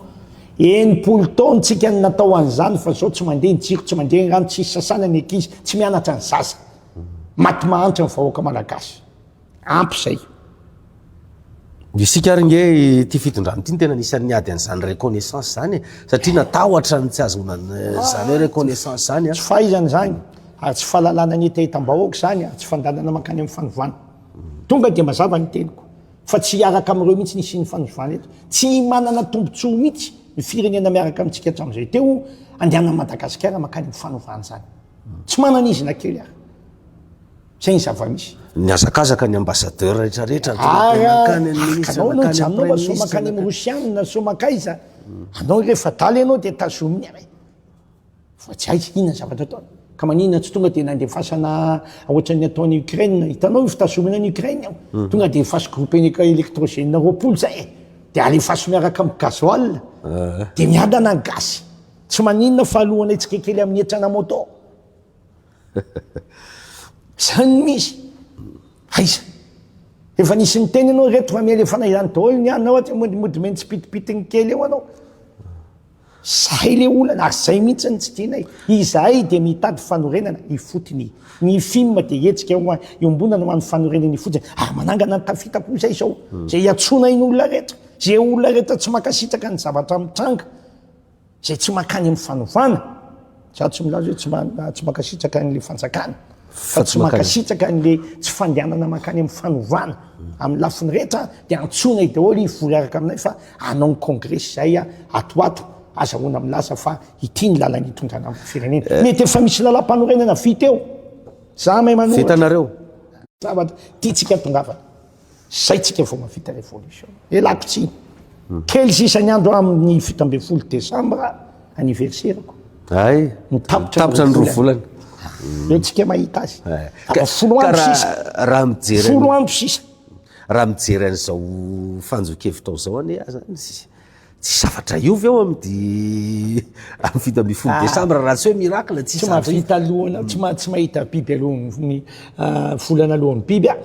Enimpolo taona tsika no natao an'izany fa zao tsy mandeha ny jiro, tsy mandeha ny rano, tsisy sasana ny ankizy, tsy mianatra ny zaza. Maty mahantra ny vahoaka Malagasy. Ampy zay. Isika ary nge ity fitondrana ity no tena anisan'ny niady an'izany reconnaissance izany e. Satria natahotra ny tsy hahazoana izany hoe reconnaissance izany a. Tsy fahaizana izany, ary tsy fahalalana ny hetahetam-bahoaka izany ary tsy fandalinana mankany amin'ny fanovana. Tonga dia mazava ny teniko fa tsy hiaraka amin'ireo mihitsy ny hisian'ny fanovana eto. Tsy himanana tombontsoa mihitsy ny firenena miaraka amintsika hatramin'izay teo andehanan'i Madagasikara mankany amin'ny fanovana izany. Tsy manana izy na kely ary. zay ny zava-misy Nihazakazaka ny ambassadeur rehetra rehetra aty ah, Makany an'ny ministre, makany an'ny prime ministre Makany amin'ny rosianina, so makaiza Anao rehefa daly ianao dia tazominy aray Fa tsy aiza inona zavatra ataony Ka manina tsy tonga dia nandefasana ohatran'ny ataony Ukraine Hitanao io fitazomina ny Ukraine ao hmm. Tonga dia efasy groupe électrogène roapolo zay eh. Dia alefaso miaraka amin'ny gasoil eh. Dia miadana ny gasy Tsy manina fa alohanay tsikekely amin'ny hetrana moto Zany no izy. Aiza? Efa nisy niteny anao reto fa mialefana izany daholo ny anao aty mody mody meny tsipitipitiny kely eo anao. Zay le olana, ary zay mihitsy ny tsy tianay. Izahay dia mitady fanorenana ifotony. Ny film dia hetsika iombonana ho an'ny fanorenana ifotony, ary manangana ny tafita koa izay izao. Izay iantsoana iny olona rehetra, izay olona rehetra tsy mankasitraka ny zavatra mitranga. Izay tsy mankany amin'ny fanovana, za tsy milaza hoe tsy ma- tsy mankasitraka an'ilay fanjakana, fa tsy mankasitraka an'ilay tsy fandehanana mankany amin'ny fanovana. Amin'ny lafiny rehetra dia antsoina i daholo hivory araka aminay fa hanao ny kongresy izahay ato ho ato, azahoana milaza fa ity ny lalana hitondrana ny firenena. Eh. Mety efa misy lalàmpanorenana vita eo, za mahay manoro. Vitanareo. Zavatra tiantsika tongavana. Zay tsika vao mahavita revolution. Elako tsiny. Kely sisa ny andro aho amin'ny fito ambin'ny folo desambra anniversaire-ko. Ay, tapitra ny roa volana. Eo tsika mahita azy. Ka- Folo ka andro raha- sisa. raha mijery Folo an'i- andro sisa. raha mijery an'izao fanjokevitrao zao anie aza Tsy zavatra hiova eo amin'ny di amin'ny fito ambin'ny folo ah. desambra raha tsy hoe miracle tsy mahavita alohana tsy ma tsy mahita biby alohan'ny ah, volana alohan'ny biby a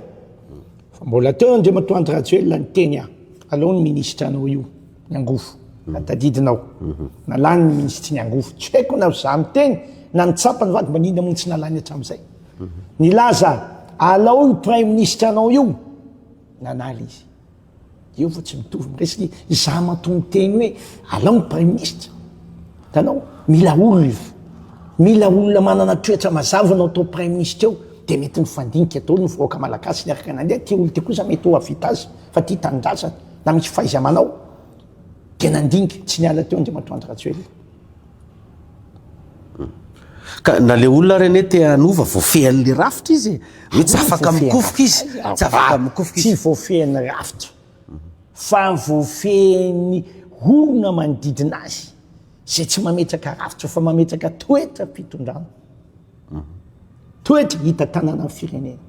fa mbola teo andriamatoa andry rajoelina ny teny a alao ny ministra anao io ny angofo mm. atadidinao mm-hmm. nalany ny ministry ny angofo tsy haiko na za miteny na nitsapa ny vaky manina mony tsy nalany hatramin'izay mm-hmm. nilaza alao io prime ministra anao io nanala izy Eo fa tsy mitovy ny resaka e. Izaho matoa miteny hoe alao ny praiminisitra. Hitanao, mila olona, mila olona manana toetra mazava no atao praiminisitra eo, dia mety mifandinika daholo ny vahoaka malagasy miaraka nandeha. Ity olona ity kosa mety ho hahavita azy fa tia tanindrazana na misy fahaiza-manao, dia nandinika tsy niala teo Andriamatoa Andry Rajoelina. Ka na le olona ary anie te hanova voafehin'le rafitra izy e! Hoe tsy afaka mikofoka izy, tsy afaka mikofoka izy. Tsy voafehin'ny rafitra fa voafehin'ny orona manodidina azy izay tsy mametraka rafitra fa mametraka toetram-pitondrana. Toetra hita tanana ny firenena.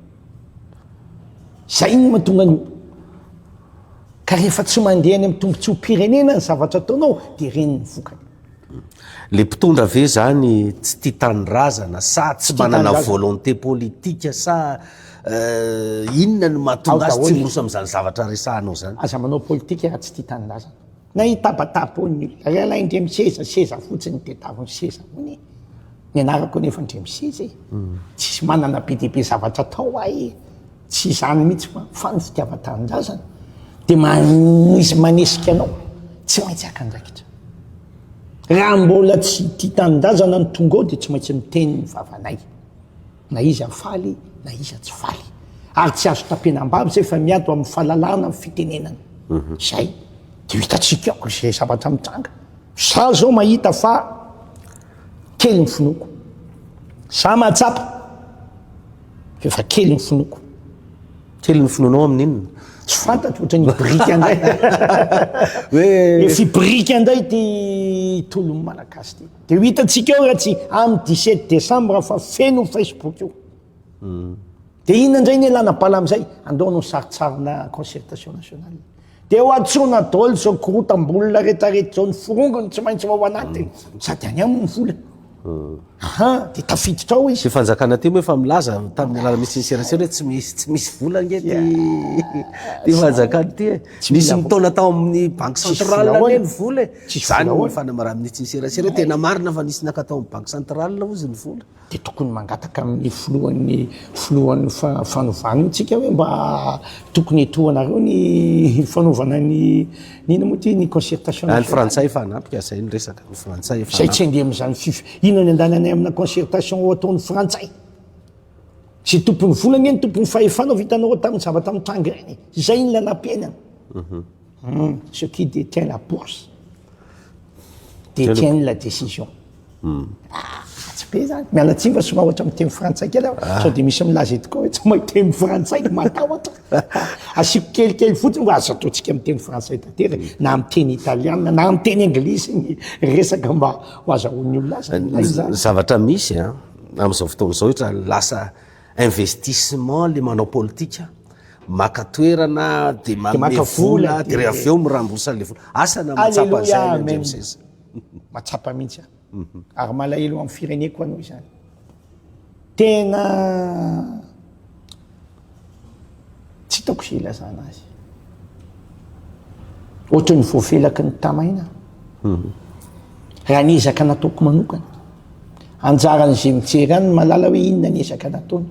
Zay no mahatonga an'io. Ka rehefa tsy mandeha any amin'ny tombontsoam-pirenena ny zavatra ataonao dia ireny ny vokany. Le mpitondra ve zany tsy tia tanindrazana sa tsy manana volonté politique sa inona no mahatonga azy tsy miroso amin'izany zavatra resahanao zany? Aza manao politika raha tsy tia tanindrazana. Na hitabataba hono ny olona, rahalahy indray miseza seza fotsiny dia tavy ny seza hono e! Ny anarako anefa indray miseza e! Tsisy manana be dia be zavatra atao ahy e! Tsy izany mihitsy fa fa ny fitiavan-tanindrazana dia manisy manesika anao tsy maintsy haka andraikitra. Raha mbola tsy tia tanindrazana ny tonga ao dia tsy maintsy miteny ny vavanay. Na iza faly na iza tsy faly. Ary tsy azo tapena ambavy izay fa mianto amin'ny fahalalahana ny fitenenana. Izay dia ho hitantsika ao izay zavatra mitranga. Za izao mahita fa kely ny finoako. Za mahatsapa fa efa kely ny finoako. Kely ny finoanao amin'inona? Tsy fantatro, ohatran'ny hibirika indray. Hoe. Efa hibirika indray ity tolon'ny Malagasy ity. Dia ho hitantsika eo raha tsy amin'ny 17 desambra fa feno Facebook io. Hmm. Dia inona indray ny elana bala amin'izay? Andao hanao sarintsarina concertation nationale. Dia ho antsoina daholo izao korotam-bolona rehetrarehetra izao ny forongony tsy maintsy ao anaty hmm. sady any aminy ny vola. Aha, dia tafiditra ao izy. Tsy fanjakana aty moa efa milaza tamin'ny alala misy serasera hoe tsy misy tsy misy vola nge ty ty fanjakana ty e. Nisy mitaona tao amin'ny banque centrale anie ny vola e. Tsy izany ny fanamaran'ny ny tsy ny serasera, tena marina fa nisy naka tao amin'ny banky centrale hozy ny vola. Dia tokony mangataka amin'ny filohan'ny filohan'ny fanovana io tsika hoe mba tokony etohanareo ny fanaovana ny ny inona moa ity ny concertation nationale. Ny frantsay efa hanampy ka izay ny resaka, ny frantsay efa. Izay tsy handeha amin'izany fif, inona ny andananay amina concertation ho ataon'ny frantsay? Izay tompon'ny vola anie no tompon'ny fahefana vao hitanao tamin'ny zavatra mitranga ireny e! Izay ny nanampiana. Hum, ce qui détient la bourse détient la décision. Hum. Ah, ratsy be zany. Miala tsiny fa somary ohatra miteny frantsay kely aho. Ah. Sao dia misy milaza eto koa hoe tsy mahay teny frantsay, matahotra. Asiako kelikely fotsiny fa aza ataontsika miteny frantsay tanteraka mm. na miteny italiana na miteny anglisy ny resaka mba ho azahoan'ny olona azy. Zavatra misy a, ah, amin'izao fotoana izao ohatra lasa Investissement le manao politika, maka toerana de manome vola de re avy eo mirambosa anle vola. Asa na matsapa anzay le ndry mseza. Matsapa mihitsy aho. Ary malahelo amin'ny fireneko aloha izany. Tena. Tsy hitako izay hilazana azy. Ohatran'ny voafelaky ny tamaina. Raha ny ezaka nataoko manokana. Anjaran'izay mijery any ny malala hoe inona ny ezaka nataony.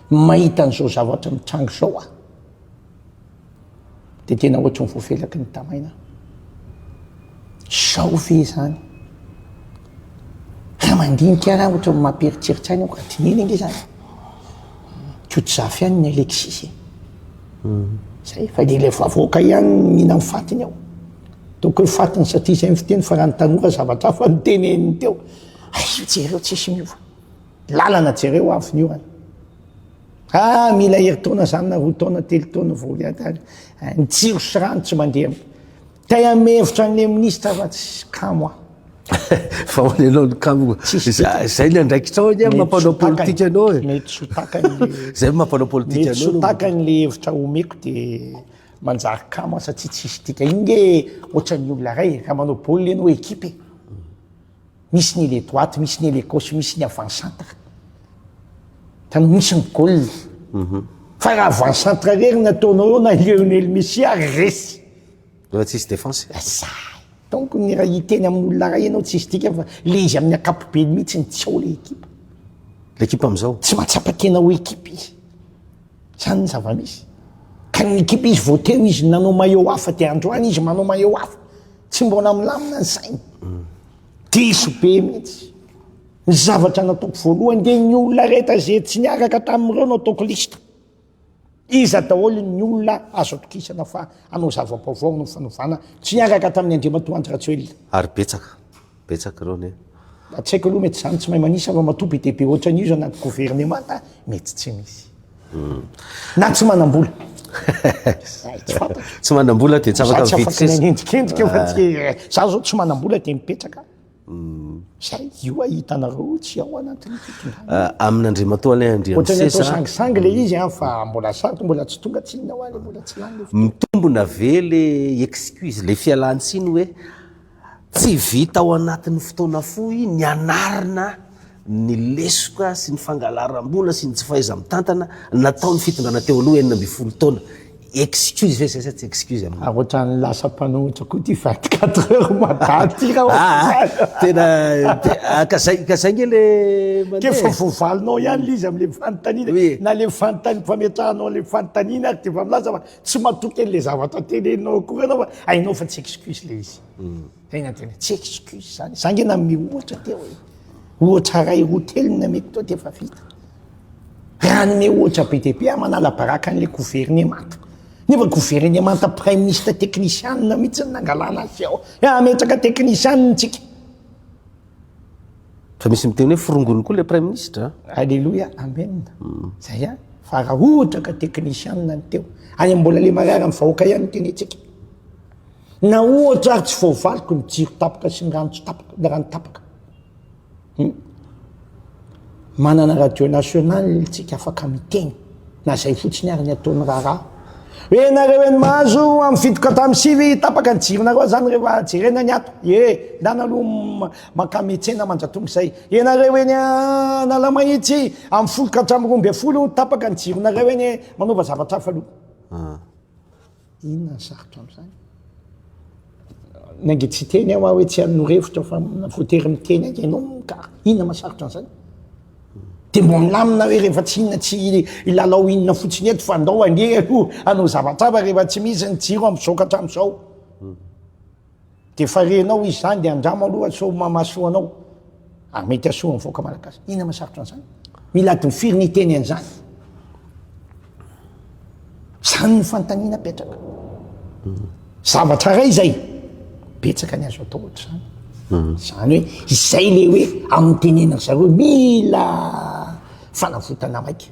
Mahita an'izao zavatra mitranga izao aho. Dia tena ohatry ny voafelaky ny tamaina. Zao ve izany? Raha mandinika raha ohatry ny mampieritreritra aina aho ka dinihina ange izany. Kiotsafy ihany ny Alexis e. Zay, fa dia ilay vavoaka ihany mihina ny fatiny ao. Toko hoe fatiny satria izay ny fiteny fa raha ny tanora zavatra hafa no teneniny teo. Hay, jereo tsisy miova. Lalana jereo avy ny orana. Ah, mila herintaona zany na roa taona, telo taona vao hiadany. Eh, ny tsiro sy rano tsy mandeha. Tay amin'ny hevitra an'ilay ministra fa tsy kamo aho. fa ho nenao ny kamo. Zay ny andraikitrao anie mampanao politika anao e. Mety sotakany le Zay mampanao politika anao. Mety sotakany le hevitra omeko dia manjary kamo satsia tsisy dika. Inge ohatran'ny olona ray raha manao baolina ianao ekipe. Misy ny le droite, misy ny le gauche, misy ny avant centre. Tany misy ny goal. Mhm. Fa raha avant centre rery ny ataonao eo na Lionel Messi ary resy. Rehefa tsisy défense. Zay. Donc ny raha hiteny amin'olona ray ianao tsisy dikany fa le izy amin'ny ankapobeny mihitsy ny tsy ao le ekipa. Le ekipa amin'izao. Tsy mahatsapa tena ho ekipa izy. Zany ny zava-misy. Ka ny ekipa izy vao teo izy nanao maillot hafa dia androany izy manao maillot hafa. Tsy mbola milamina ny sainy. Diso be mihitsy. Ny zavatra nataoko voalohany dia ny olona rehetra izay tsy niaraka tamin'ireo no ataoko liste. Iza daholo ny olona azo atokisana fa hanao zava-baovao amin'ny fanovana tsy niaraka tamin'ny Andriamatoa Andry Rajoelina. Ary betsaka. betsaka ireo anie. Mba tsy haiko aloha mety zany tsy mahay manisa ramatoa be dia be ohatran'io zany anaty governemanta mety tsy misy. Na tsy manam-bola. Zay tsy fantatro. Tsy manam-bola dia tsy afaka mividy seza. Za tsy afaka miendrikendrika fa tsy eh, za zao tsy manam-bola dia mipetraka. Zay io ahitanareo tsy ao anatin'ny fitondrana. Ah, amin'Andriamatoa Alain Andriamisesa. Ohatran'ny atao sangisangy le izy an, fa mbola sarotro mbola tsy tonga tsy inona hoa le mbola tsy lany le. Mitombona ve le excuse, le fialantsiny hoe. Tsy vita ao anatin'ny fotoana fohy ny hanarina ny lesoka sy ny fangalaram-bola sy ny tsy fahaiza-mitantana nataon'ny fitondrana teo aloha enina ambin'ny folo taona. Excuse ve izay sa tsy excuse aminao? Ary ohatran'ny lasa mpanohitra koa ity vingt quatre heures mada ity raha ohatry Aa izany. Tena ah ka zay ka zay nge le mandeha e! K'efa voavalinao ihany le izy amin'le fanontaniana, na le fanontaniana, fametrahanao an'le fanontaniana ary dia efa milaza fa Tsy matoky an'ilay zavatra teneninao akory ianao fa hainao fa tsy excuse ilay izy. Tena tena tsy excuse izany. Za nge nanome ohatra teo hoe ohatra iray roa telo ny nameko teo dia efa vita. Raha hanome ohatra be dia be aho manala baraka an'ilay governemanta. Nefa governemanta praiminisitra teknisianina mihitsy no nangalana azy sy ao. Hametraka teknisianina isika. Fa misy miteny hoe forongony koa le praiminisitra. Aleloia, amen. Mm. Zay a, fa raha ohatra ka technician ny teo, any mbola le marary amin'ny vahoaka ihany no tenentsika. Na ohatra ary tsy voavaliko ny jiro tapaka sy ny rano tsy tapaka, ny rano tapaka. Hmm. Manana radio national tsika afaka miteny na zay fotsiny ary ny ataony raharaha hoe nareo eny mahazo amin'ny fito ka tamin'ny sivy tapaka ny jironareo zany rehefa jerena ny ato e ndana aloha mankametsena manjatonga izay enareo eny analamahitsy amin'ny folo ka hatramin'ny roa ambin'ny folo tapaka ny jironareo eny manaova zavatra hafa aloha ah. Inona ny sarotra amin'izany? Nainge tsy hiteny aho hoe tsy hanoro hevitra fa voatery miteny hainga ianao ka inona mahasarotra an'izany? Dia mba milamina hoe rehefa tsy inona tsy hilalao inona fotsiny eto fa andao ange aloha hanao zavatra hafa rehefa tsy misy ny jiro amin'ny zao ka hatramin'izao. Dia efa renao izy zany dia andramo aloha sao mamasoa anao. Ary mety hasoa amin'ny vahoaka malagasy. Inona masarotra an'izany? Mila adiny firy ny hiteny an'izany? Izany ny fanontaniana apetraka. Zavatra iray izay betsaka ny azo atao ohatr'izany. Hmm. Izany hoe izay le hoe amin'ny tenenan'ny zareo mila fanavotana maika.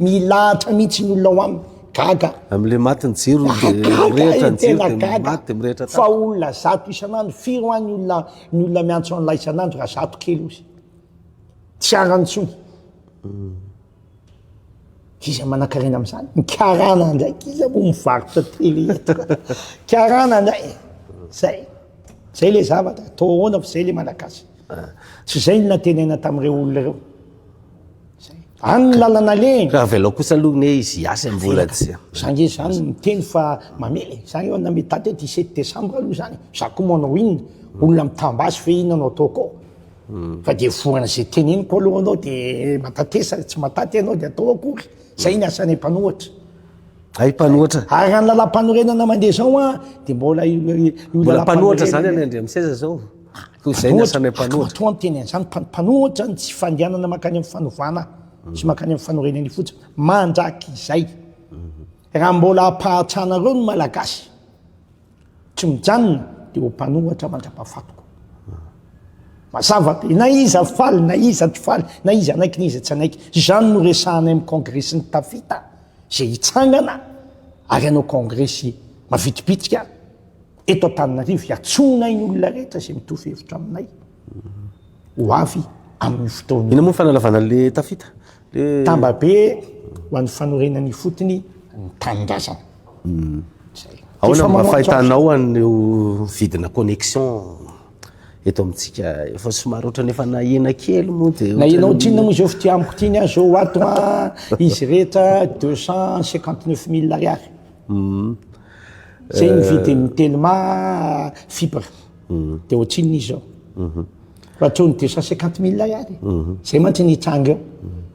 Milahatra mihitsy ny olona ao aminy. Gaga. Amle maty ny jiro dia mirehitra ny jiro dia maty dia mirehitra tapitra. Fa olona zato isan'andro firy hoa ny olona ny olona miantso an'la isan'andro raha zato kely ozy. Tsy arany intsony. Iza manakarena amin'izany? Ny karana ndraiky iza moa mivarotra tele eto. Karana ndray. Zay. Zay le zavatra. Atao ahoana fa zay le malagasy. Tsy izay ny natenena tamin'ireo olona ireo. Any ny lalana alehany. Raha avy alao kosa aloha ny hoe izy hiasa mbola tsy. Za nge izany miteny fa mamela e. Za eo na mety daty hoe dix sept décembre aloha izany. Za koa manao inona? Olona mitam-ba azy ve inona no ataoko ao? Fa dia voan' izay teneniko aloha anao dia matatesa tsy mataty ianao dia atao akory. Izay ny asanay mpanohatra. Hay mpanohatra. Ary raha ny lalam-panorenana mandeha izao an, dia mbola io lalam-panorenana. Mbola mpanohatra izany any Andriamiseza izao? Toy izay ny asan'ilay mpanohitra. Matoa ny teny an'izany, mpanohitra ny tsy fandehanana mankany amin'ny fanovana sy mankany amin'ny fanorenana ny fotsiny. Mandrakizay, raha mbola hampahatranareo ny Malagasy tsy mijanona dia ho mpanohitra mandrapahafatiko. Mazava be, na iza faly, na iza tsy faly, na iza hanaiky, na iza tsy hanaiky. Izany no resahanay amin'ny kongresy ny tafita izay hitsangana ary hanao kongresy mavitribitrika. Eto Antananarivo, iantsoanay ny olona rehetra izay mitovy hevitra aminay ho avy amin'io fotoana io. Inona moa ny fanalavana le tafita? Le... Tamba be ho an'ny fanorenana ifotony ny tanindrazana. Hmm. Zay. Ahoana mba fahitanao an'ireo vidina connexion eto amintsika? Efa somary ohatrany efa nahena kely moa dia... Nahena ohatr'inona moa izao fitia amiko ity ny ahy izao ato an, izy rehetra deux cent cinquante neuf mille ariary. Hmm. Zay ny vidin'ny Telma fibre dia ohatrinona izy zao. Raha toa ny deux cent cinquante mille ihany zay mantsy ny hitranga eo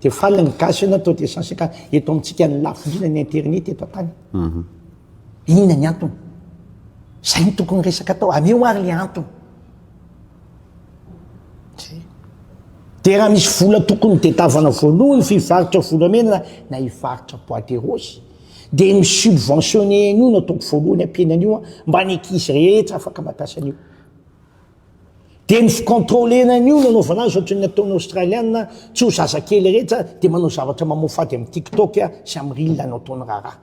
dia faly ny gasy na toa deux cent cinquante eto amintsika ny lafo indrindra ny internet eto an-tany. Inona ny antony? Zay no tokony resaka atao, ameo ary le antony. Dia raha misy vola tokony dedavana voalohany fivarotra volamena na hivarotra bois de rose. Dia ny subventionner an'io no ataoko voalohany ampiana an'io an, mba ny ankizy rehetra afaka mampiasa an'io. Dia ny ficontrollena an'io no anaovana azy ohatran'ny ataon'ny Australiana, tsy ho zazakely rehetra dia manao zavatra mamoafady amin'ny tiktok sy amin'ny reel no ataony raharaha.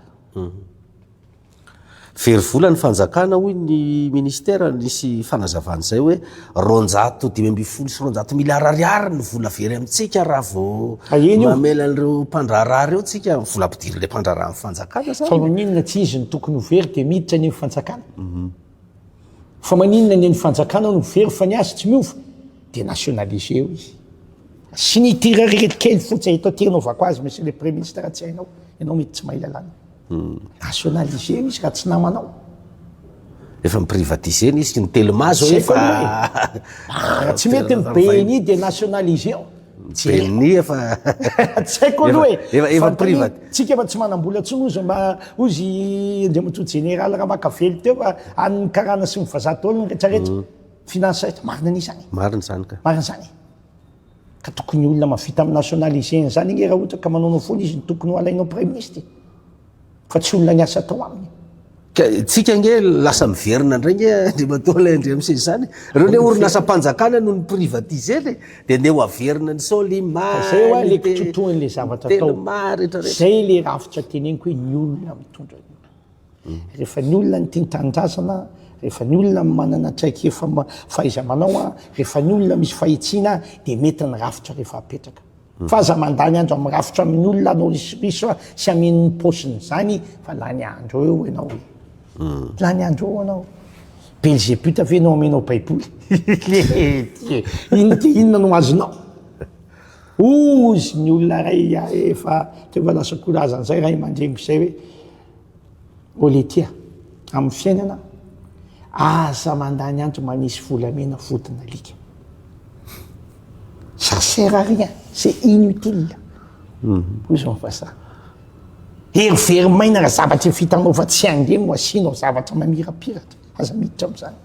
Very vola ny fanjakana hoy ny minisitera, nisy fanazavana izay hoe roanjato dimy ambin'ny folo sy roanjato miliara ariary ny vola very amintsika raha vao mamela an'ireo mpandraharaha ireo tsika, vola ampidirin'ilay mpandraharaha amin'ny fanjakana izany. Fa maninona tsy izy no tokony ho very dia miditra any amin'ny fanjakana? Fa maninona ny an'ny fanjakana no very fa ny azy tsy miova? Dia nationaliser eo izy. Signitirary ireto kely fotsy eto aty anaovako azy Monsieur le Premier Ministre raha tsy hainao, ianao mety tsy mahay lalàna. Nationaliser-na izy ka tsy namanao. Efa ni-privatiser-na izy, ny telma zao efa. Ah, tsy mety ny BNI dia nationaliser-o. BNI efa. Tsy haiko aloha e. Efa, efa privat. Tsika efa tsy manam-bola intsony hozy mba, hozy Andriamatoa Jeneraly Ramakavelo teo fa any ny karana sy ny vazaha daholo ny retraretra. Financer, marina an'izany. Marina izany ka. Marina izany e. Ka tokony olona mavita am nationaliser an zany anie ra ohatra ka manaonao foana izy no tokony ho alainao praiministy e! Fa tsy olona niasa tao aminy. Ka tsika ange lasa miverina indray ange Andriamatoa ilay ndrmc izany. Ireo le orinasam-panjakana no ni-privatiser le dia neo averina ny Solima, Fa zay wa le kitotohan'le zavatra atao. Telma retraretra. Zay le rafitra teneniko hoe ny olona mitondra ny olona. Rehefa ny olona ny tia ny tanindrazana, rehefa ny olona ny manana traikefa fahaiza-manao, rehefa ny olona misy fahitsiana dia mety ny rafitra rehefa apetraka. Fa aza mandany andro amin'ny rafitra amin'ny olona hanao risoriso sy hameno ny paosiny izany fa lany andro eo ianao e. Lany andro eo ianao. Belzebuta ve no hamenao baiboly? Inona dia inona no azonao? Hozy ny olona iray ahy fa teo efa lasa koa razana izay ray aman-dreniko izay hoe. Oletia, amin'ny fiainana aza mandany andro manisy volamena vodin'alika. Ça sert à rien, c'est inutile. Hoy izao ny vazaha. Hery very maina raha zavatra efa hitanao fa tsy hange no asianao zavatra mamirapiratra. Aza miditra amin'izany.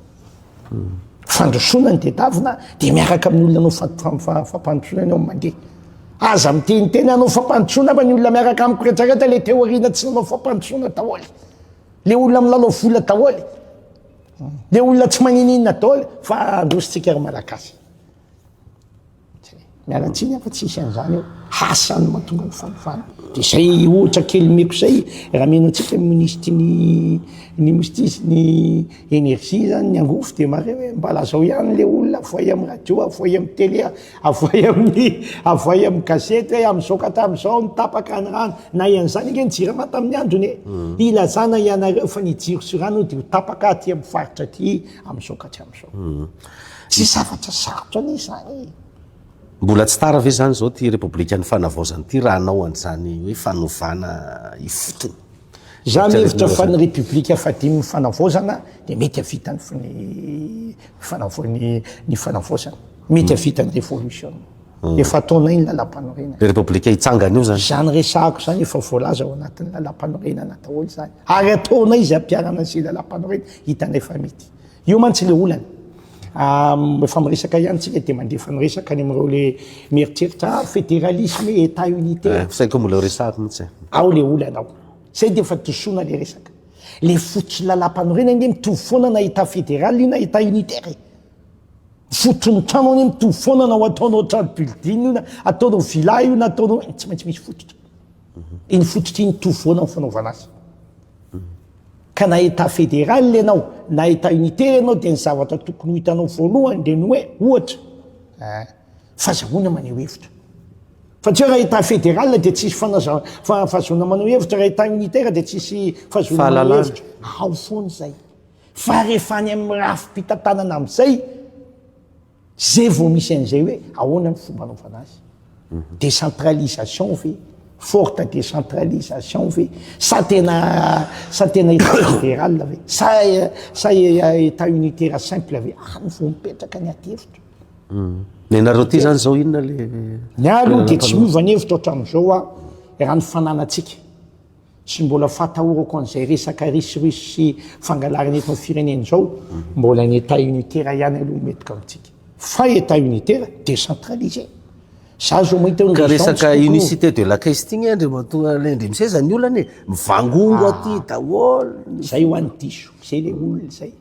Fandrosoana ny tedavina dia miaraka amin'ny olona anao fampandrosoana ianao mandeha. Aza miteniteny hanao fampandrosoana fa ny olona miaraka amiko rehetrarehetra le teo aoriana tsy nanao fampandrosoana daholo. Le olona milalao vola daholo. Le olona tsy manininona daholo fa androsontsika ry Malagasy. Miala tsiny aho fa tsy hisy an'izany eo. Hasa no mahatonga ny fahefana. Dia izay ohatra kely omeko izay, raha mino antsika ny minisitry ny ny minisitry sy ny énergie izany ny angofo dia mahare hoe mba lazao ihany ilay olona avohay amin'ny radio, avohay amin'ny télé, avohay amin'ny avohay amin'ny gazety hoe amin'izao ka hatramin'izao no tapaka ny rano. Nahay an'izany ange ny Jirama tamin'ny androny e! Ilazana ianareo fa ny jiro sy rano dia ho tapaka aty amin'ny faritra aty amin'izao ka hatramin'izao. Tsy zavatra sarotra anie izany e! Mbola tsy tara ve izany izao ity Repoblikan'ny Fanavaozana ity raha hanao an'izany hoe fanovana ifotony? Izaho mihevitra fa ny Repoblika fahadimin'ny Fanavaozana dia mety hahavita ny ny Fanavaozana. Mety hahavita ny Revolution. Efa ataonay ny Lalàmpanorenana. Ilay Repoblika hitsangana io izany? Izany resahako izany efa voalaza ao anatin'ny Lalàmpanorenana daholo izany. Ary ataonay izay hampiharana an'izay Lalàmpanorenana hitanay fa mety. Io mantsy le olana rehefa miresaka ihany tsika dia mandefa miresaka any amin'ireo le mieritreritra ah federalisme etat unitaire. Eh, saingy mbola resahako mihitsy. Eh. Ao le olana ao. Zay dia efa disoana le resaka. Le fototsy lalam-panorenana anie mitovy foana na etat fédéral io na etat unitaire. Eh. Fotony trano anie mitovy foana na ho ataonao trano building io na ataonao villa io na ataonao tsy maintsy misy fototra. Mhm. Iny fototra iny mitovy foana ny fanaovana azy. Ka na Etat fédéral ianao na Etat unitaire ianao dia ny zavatra tokony ho hitanao voalohany dia ny hoe ohatra eh fazahoana maneho hevitra. Fa tsy hoe raha Etat fédéral dia tsisy fanaza fa fahazoana maneho hevitra, raha Etat unitaire dia tsisy fahazoana maneho hevitra. Fahalalana. Ao foana izay. Fa rehefa any amin'ny rafi-pitantanana amin'izay. Zay vao misy an'izay hoe ahoana ny fomba anaovana azy. Décentralisation ve? Forte décentralisation ve? Sa tena sa tena état fédéral ve? Sa sa état unitaire simple ve? Any vao mipetraka ny adihevitra. Ny anareo aty zany zao inona le. Ny ahy aloha dia tsy miova ny hevitro hatramin'izao aho raha ny fananantsika. Tsy mbola fahatahorako an'izay resaka risirus sy fangalarana eto amin'ny firenena izao, mbola ny etat unitaire ihany aloha no mety gagontsika. Fa etat unitaire decentralisé. Za zao mahita hoe Ka resaka unicité de la caisse ity nge Andriamatoa Lendry miseza ny olana e, mivangongo aty daholo ny. Zay hoany diso, zay le olona zay.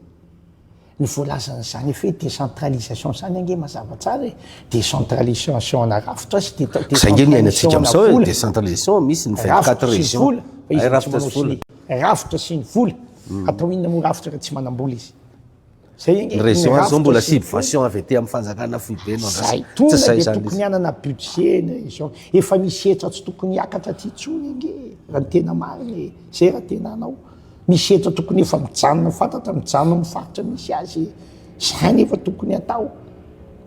Ny voalazan'izany effet décentralisation izany ange mazava tsara e, décentralisation ana rafitra sy décentralisation ana vola, décentralisation misy ny vingt quatre régions, ay rafitra sy vola, rafitra sy ny vola, atao inona moa rafitra raha tsy manam-bola izy. Ny région aza zao mbola subvention avy aty amin'ny fanjakana foibe no andrasana, tsy izay izany izy. Zay, tokony dia hanana budget ny région, efa misy hetra tsy tokony hiakatra aty intsony ange raha ny tena marina e, zay raha tena hanao. Misy eto tokony efa mijanona fantatra mijanona amin'ny faritra misy azy zay ny efa tokony atao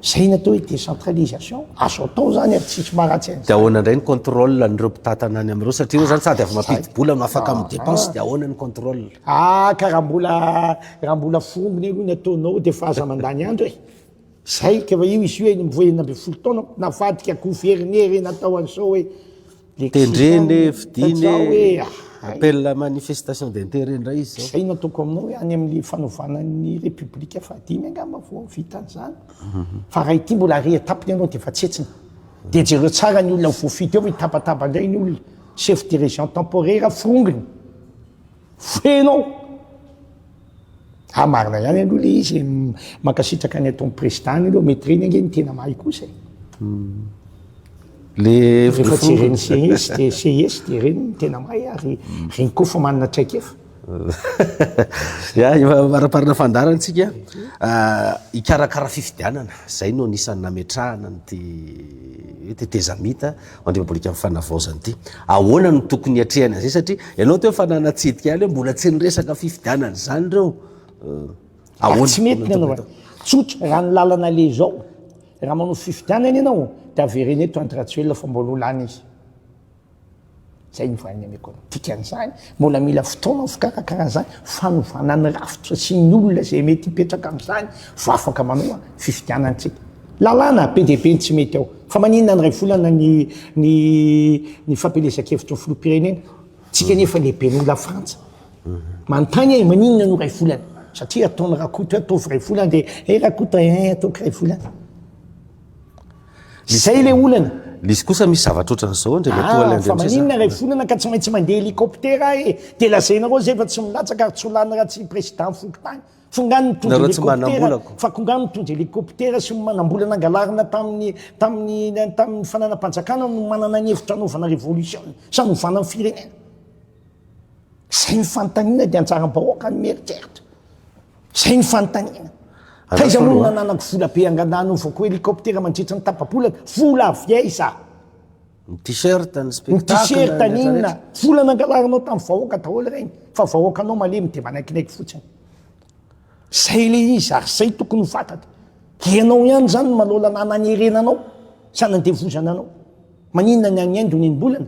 zay ny atao hoe décentralisation azo atao zany ary tsisy maharatsy an'izany dia ahoana indray ny contrôle an'ireo mpitatana any amin'ireo satria eo zany sady avy mampidi bola no afaka amin'ny dépense dia ahoana ny contrôle ah ka raha mbola raha mbola fongony aloha ny ataonao dia efa aza mandany andro e zay ka efa io izy io eny mivoa enina ambin'ny folo taona navadika akoho very ny heriny atao an'izao hoe Tendreny e, vidiny e, appel à manifestation d'intérêt indray izy zao. Izay no ataoko aminao hoe any amin'ny fanovana ny République fahadimy angamba vao vita an'izany. Fa raha ity mbola ary étape ny anao dia efa tsetsina. Dia jereo tsara ny olona ho voafidy ao fa hitabataba indray ny olona. Chef de région temporaire forongony. Feno ao. Ha marina ihany aloha le izy e. Mankasitraka ny ataon'ny président ny aloha, mety reny ange ny tena mahay kosa e. Hmm. Le rehefa jeren'ny CIS de CIS de reny ny tena mahay ary hmm. reny koa fa manana traikefa. Ya, maraparina fandarana antsika. Ah, ikarakara fifidianana, zay no anisan'ny nametrahana an'ity tetezamita. Andriambolika ny fanavaozana ity. Ahoana no tokony hiatrehana izay satria ianao teo efa nanatsidika ihany hoe mbola tsy niresaka fifidianana izany ireo. Ahoana? Tsy mety ny anaovana. Tsotra, raha ny lalana aleha izao, raha manao fifidianana ianao dia avereno eto Andry Rajoelina fa mbola ho lany izy. izay no valiny ameko anao. Dikan'izany, mbola mila fotoana ho fikarakarana izany fanovana ny rafitra sy ny olona izay mety hipetraka amin'izany vao afaka manoa fifidianana antsika. Lalàna be dia be ny tsy mety ao. Fa maninona any iray volana ny ny ny fampielezan-kevitry ny filoham-pirenena? Tsika anefa lehibe noho Lafrantsa. Manontany ahy, maninona no iray volana? Satria ataon'i Rakoto hoe ataovy iray volana dia, eh Rakoto eh ataoko iray volana. Zay ilay olana. Lisy kosa misy zavatra ohatran'izao ndry matoa ilay Andriamiseza. Ah, fa maninona iray volana ka tsy maintsy mandeha hélicoptère aho e. Dia lazainareo zay fa tsy milatsaka ary tsy ho lany raha tsy président fokontany. F'ngaha nitondra hélicoptère, fa ko ngaha nitondra hélicoptère sy manambola nangalarina tamin'ny tamin'ny tamin'ny fananam-panjakana no manana ny hevitra hanaovana révolution sa novana ny firenena. Izay ny fanontaniana dia an-tsaram-bahoaka ny mieritreritra. Izay ny fanontaniana. Taiza moa no nananako vola be angadah hanaovako hélicoptère mandritra ny tapa-bolana? Vola avy aiza? Ny t-shirt, ny spectacle, ny t-shirt, ny inona? Vola nangalarinao tamin'ny vahoaka daholo ireny fa vahoakanao malemy dia manaikinaiky fotsiny. Izay ilay izy ary izay tokony ho fantatra. Ianao ihany izany no manao lalàna hanerena anao sy hanandevozana anao. Maninona ny any Inde onenim-bolana?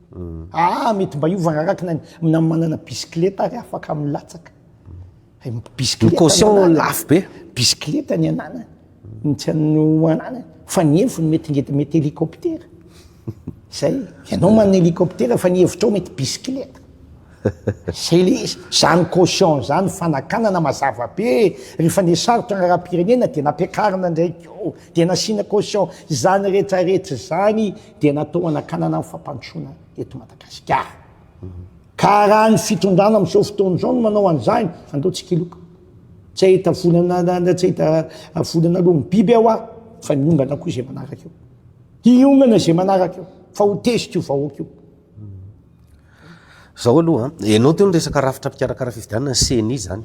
Aa mety mba hiova araka ny na manana bisikileta ary afaka milatsaka bisikileta caution lafo be bisikileta ny ananany ny tsy an'ny ananany fa ny heviny mety ngety mety hélicoptère zay ianao manana hélicoptère fa ny hevitrao mety bisikileta zay le izy zany caution zany fanakanana mazava be rehefa ny sarotra angaram-pirenena dia nampiakarina indray ko dia nasiana caution zany rehetra rehetra zany dia natao hanakanana ny fampandrosoana eto Madagasikara. Ka raha ny fitondrana amin'izao fotoana izao no manao an'izany, andao tsikiloka. Tsy hahita volana, tsy hahita volana aloha ny biby aho fa ny ongana koa izay manaraka eo. Hiongana izay manaraka eo, fa ho tezitra io vahoaka io. Zao aloha an, ianao teo niresaka rafitra mpikarakara fifidianana ny ceni zany,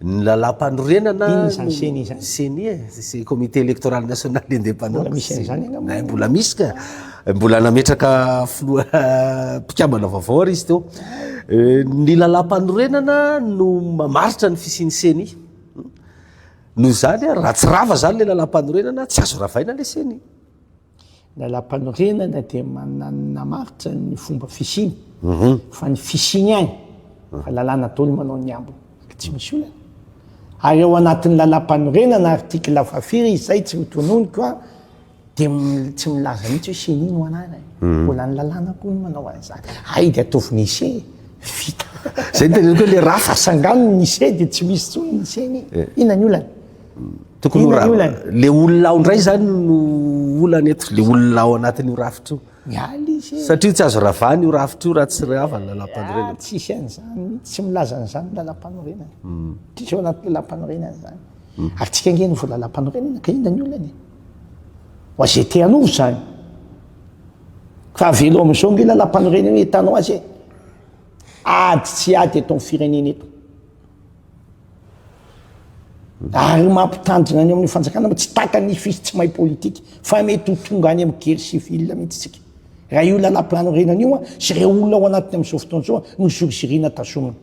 ny lalampanorenana, inona izany ceni zany? Ceni e, c'est comité électoral national indépendant, mbola misy an'izany angamba e, mbola misy ka, mbola nametraka filoha mpikambana vaovao ary izy teo, ny lalampanorenana no mamaritra ny fisian'ny ceni, noho izany raha tsy rava zany ilay lalampanorenana tsy azo ravaina ilay ceni. Lalampanorenana dia manamaritra ny fomba fisiany, mhm. fa ny fisiany ihany, mhm. fa lalàna dolo manao ny ambiny, ka tsy misy olana. Ary ao anatin'ny lalampanorenana, artikla fahafiry, izay tsy mitononiko a, dia tsy milaza mihitsy hoe seni no anarany. Mhm. Mbola ny lalàna koa no manao an'izany. Ay dia ataovy nise, vita. Zay ny teneniko hoe le rafa. Asangano ny nise dia tsy misy tsony ny seni. Eh. Inona ny olana? Tokony ho ra- le olona ao ndray zany no olana eto, le olona ao anatin'io rafitra io. Miala izy e. Satria tsy azo ravana io rafitra io raha tsy rava ny lalam-panorenana. Ah, tsisy an'izany mihitsy, tsy milaza an'izany ny lalam-panorenana. Hmm. Tsisy ao anaty lalam-panorenana izany. Hmm. Ary tsika ange no voalalam-panorenana, ka inona ny olana e? Ho azy te hanova izany. Fa avelo amin'izao nge lalam-panorenana hitanao azy e. Ady tsy ady eto amin'ny firenena eto. Ary mampitandrina any amin'ny fanjakana mba tsy taka ny fis tsy mahay politika fa mety ho tonga any amin'ny guerre civile mihitsy tsika. Raha io lalampanorenana io sy ireo olona ao anatiny amin'izao fotoana izao no zoriziriana tazomina.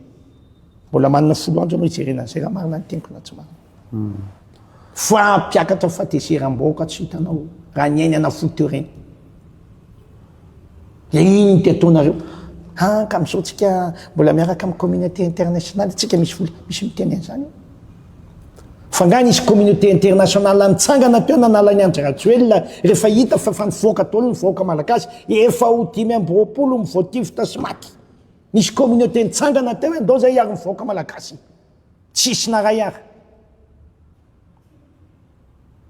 Mbola manana folo andro ianao hijerena an'izay raha marina ny teniko na tsy marina. Fa mpiakatra fatezeram-bahoaka tsy hitanao raha ny ainy hanafohy teo ireny. Dia iny no tiataonareo. An, ka amin'izao tsika mbola miaraka amin'ny communauté internationale tsika misy vola, misy miteny an'izany eo. Fa nga nisy communauté internationale nitsangana teo nanala an'i Andry Rajoelina rehefa hita fa efa nivoaka daholo ny vahoaka malagasy, efa ho dimy amby roapolo mivoatifitra sy maty. Nisy communauté nitsangana teo hoe ndao izay hiaro ny vahoaka malagasy. Tsisy naray ary.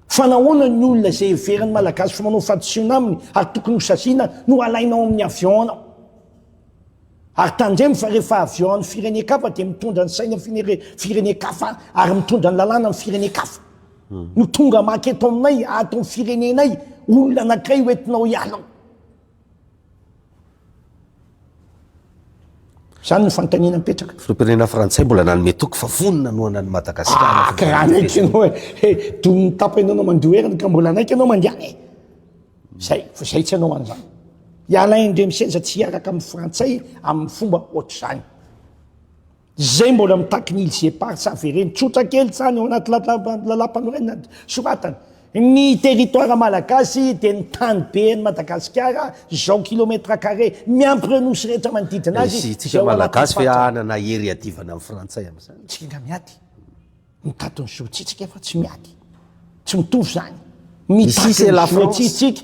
Fa nahoana ny olona izay heverin'ny Malagasy fa manao fahadisoana aminy ary tokony ho saziana no alaina ao amin'ny avion ao? Ary tandremo fa rehefa avion an'ny firenen-kafa dia mitondra ny saina firenen-kafa ary mitondra ny lalàna amin'ny firenen-kafa. Hmm. No tonga maka eto aminay, ato amin'ny firenenay, olona anankiray ho entinao hiala ao. Izany no fanontaniana mipetraka. Filoham-pirenena frantsay mbola nanome toky fa vonona hanohana an'i Madagasikara. Ah, ka hanaiky ianao e. Eh, domin'ny tapa ianao no mandoa heriny ka mbola hanaiky ianao mandehana e. Zay, fa zay tsy hanao an'izany. Ialahy indray misenja tsy hiaraka amin'ny frantsay amin'ny fomba ohatr'izany. Izay mbola mitaky ny îles éparses avereno tsotra kely izany ao anaty lalàmpanorenana soratana. Ny territoire malagasy dia ny tany be an'i Madagasikara, izao kilomètre carré, miampy ireo nosy rehetra manodidina azy, Isika malagasy ve hanana hery hiadivana amin'ny frantsay amin'izany? Tsy mila miady. Mitato ny zotsitsika fa tsy miady. Tsy mitovy izany. Mitato ny zotsitsika.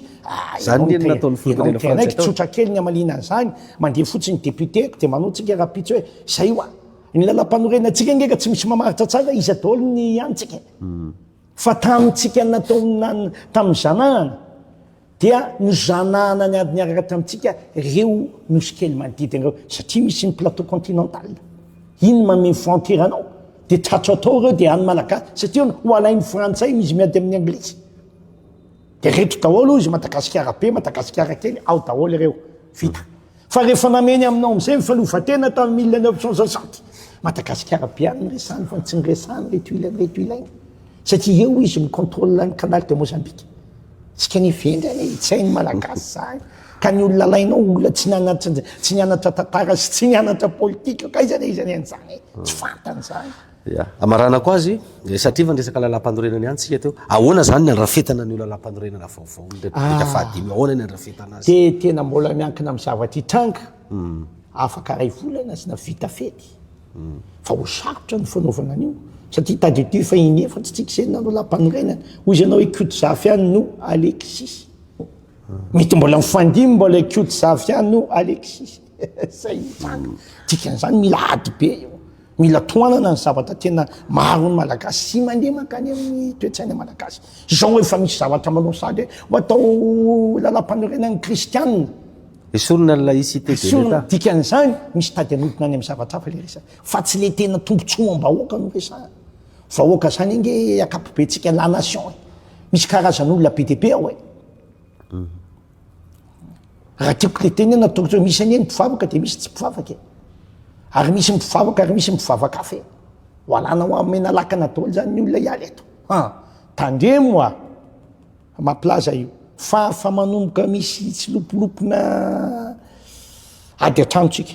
Izany anie no nataon'ny filoham-pirenena frantsay tao. Ianao miteny hoe tsotra kely ny hamaliana an'izany, mandeha fotsiny depiote-ko dia manao antsika rahampitso hoe izay hoa. Ny lalàmpanorenantsika ange ka tsy misy mamaritra tsara iza daholo ny antsika. Fa tamintsika nataon'ny tamin'ny zanahany. Dia nozanahana ny ady niaraka tamintsika ireo nosy kely manodidina ireo, satria misy ny plateau continental. Iny mameno frontière anao, dia tratro tao ireo, dia any Malagasy, satria hono ho alain'ny frantsay izy miady amin'ny anglisy. Dia reto daholo hoy izy, Madagasikara be, Madagasikara kely, ao daholo ireo. Vita. Fa rehefa nameny aminao amizay ny fanovatena tamin'ny mille neuf cent soixante, Madagasikara be any ny resany fa ny tsy niresahany reto ilainy reto ilainy satria eo izy mi controle ny canal de Mozambique. Tsika anie vendrana e, hitsahy ny Malagasy zany ka ny olona alainao olona tsy nianatra tsy nianatra tantara sy tsy nianatra politika ka aiza na aiza anie an'izany e, tsy fantany zany. Ya. Amaranako azy, satria efa niresaka lalàmpanorenana ihany tsika teo. Ahoana izany ny andrafetana an'io lalàmpanorenana vaovao ny Repoblika fahadimy io? Ahoana ny andrafetana azy? Dia tena mbola miankina amin'ny zavatra hitranga, afaka iray volana sna vita fety, fa ho sarotra ny fanaovana an'io, satria tadidio teo efa inefa tsy tsika izay nanao lampanorenana, hoy izy ianao hoe koto zafy ihany no Alexis. Mety mbola mifandimby mbola koto zafy ihany no Alexis. Zay ny tranga. Dikan'izany mila ady be io. Mila tohanana ny zavatra tena maharon'ny Malagasy sy mandeha mankany amin'ny toe-tsaina Malagasy. Izao efa misy zavatra manao sady hoe ho atao lalam-panorenan'ny Kristianina. Esorina ny laïcité de l'Etat. Esorina. Dikan'izany misy tady anodina any amin'ny zavatra hafa ilay resaka. Fa tsy ilay tena tombontsoam-bahoaka no resahana. Vahoaka izany ange ankapobentsika, la nation e. Misy karazan'olona be dia be ao e. raha tiako tetenena tokotra hoe misy anie ny mpivavaka de misy tsy mpivavaka e ary misy mpivavaka ary misy mpivavaka afa e ho alana ho amena lakana daholo zany ny olona hiala eto ha tandremo a mampilaza io fa fa manomboka misy tsy lopolopona ady an-tranontsika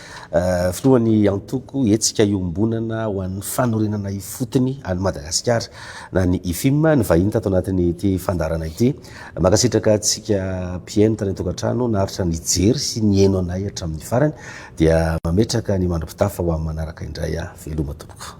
Filohan'ny antoko Hetsika Iombonana ho an'ny Fanorenana Ifotony an'i Madagasikara na ny Ifim ny vahiny tato anatin'ity fandaharana ity. Mankasitraka antsika mpihaino tany an-tokantrano naharitra nijery sy nihaino anay hatramin'ny farany dia mametraka ny mandro-pitafa ho amin'ny manaraka indray aho. Veloma tompoko.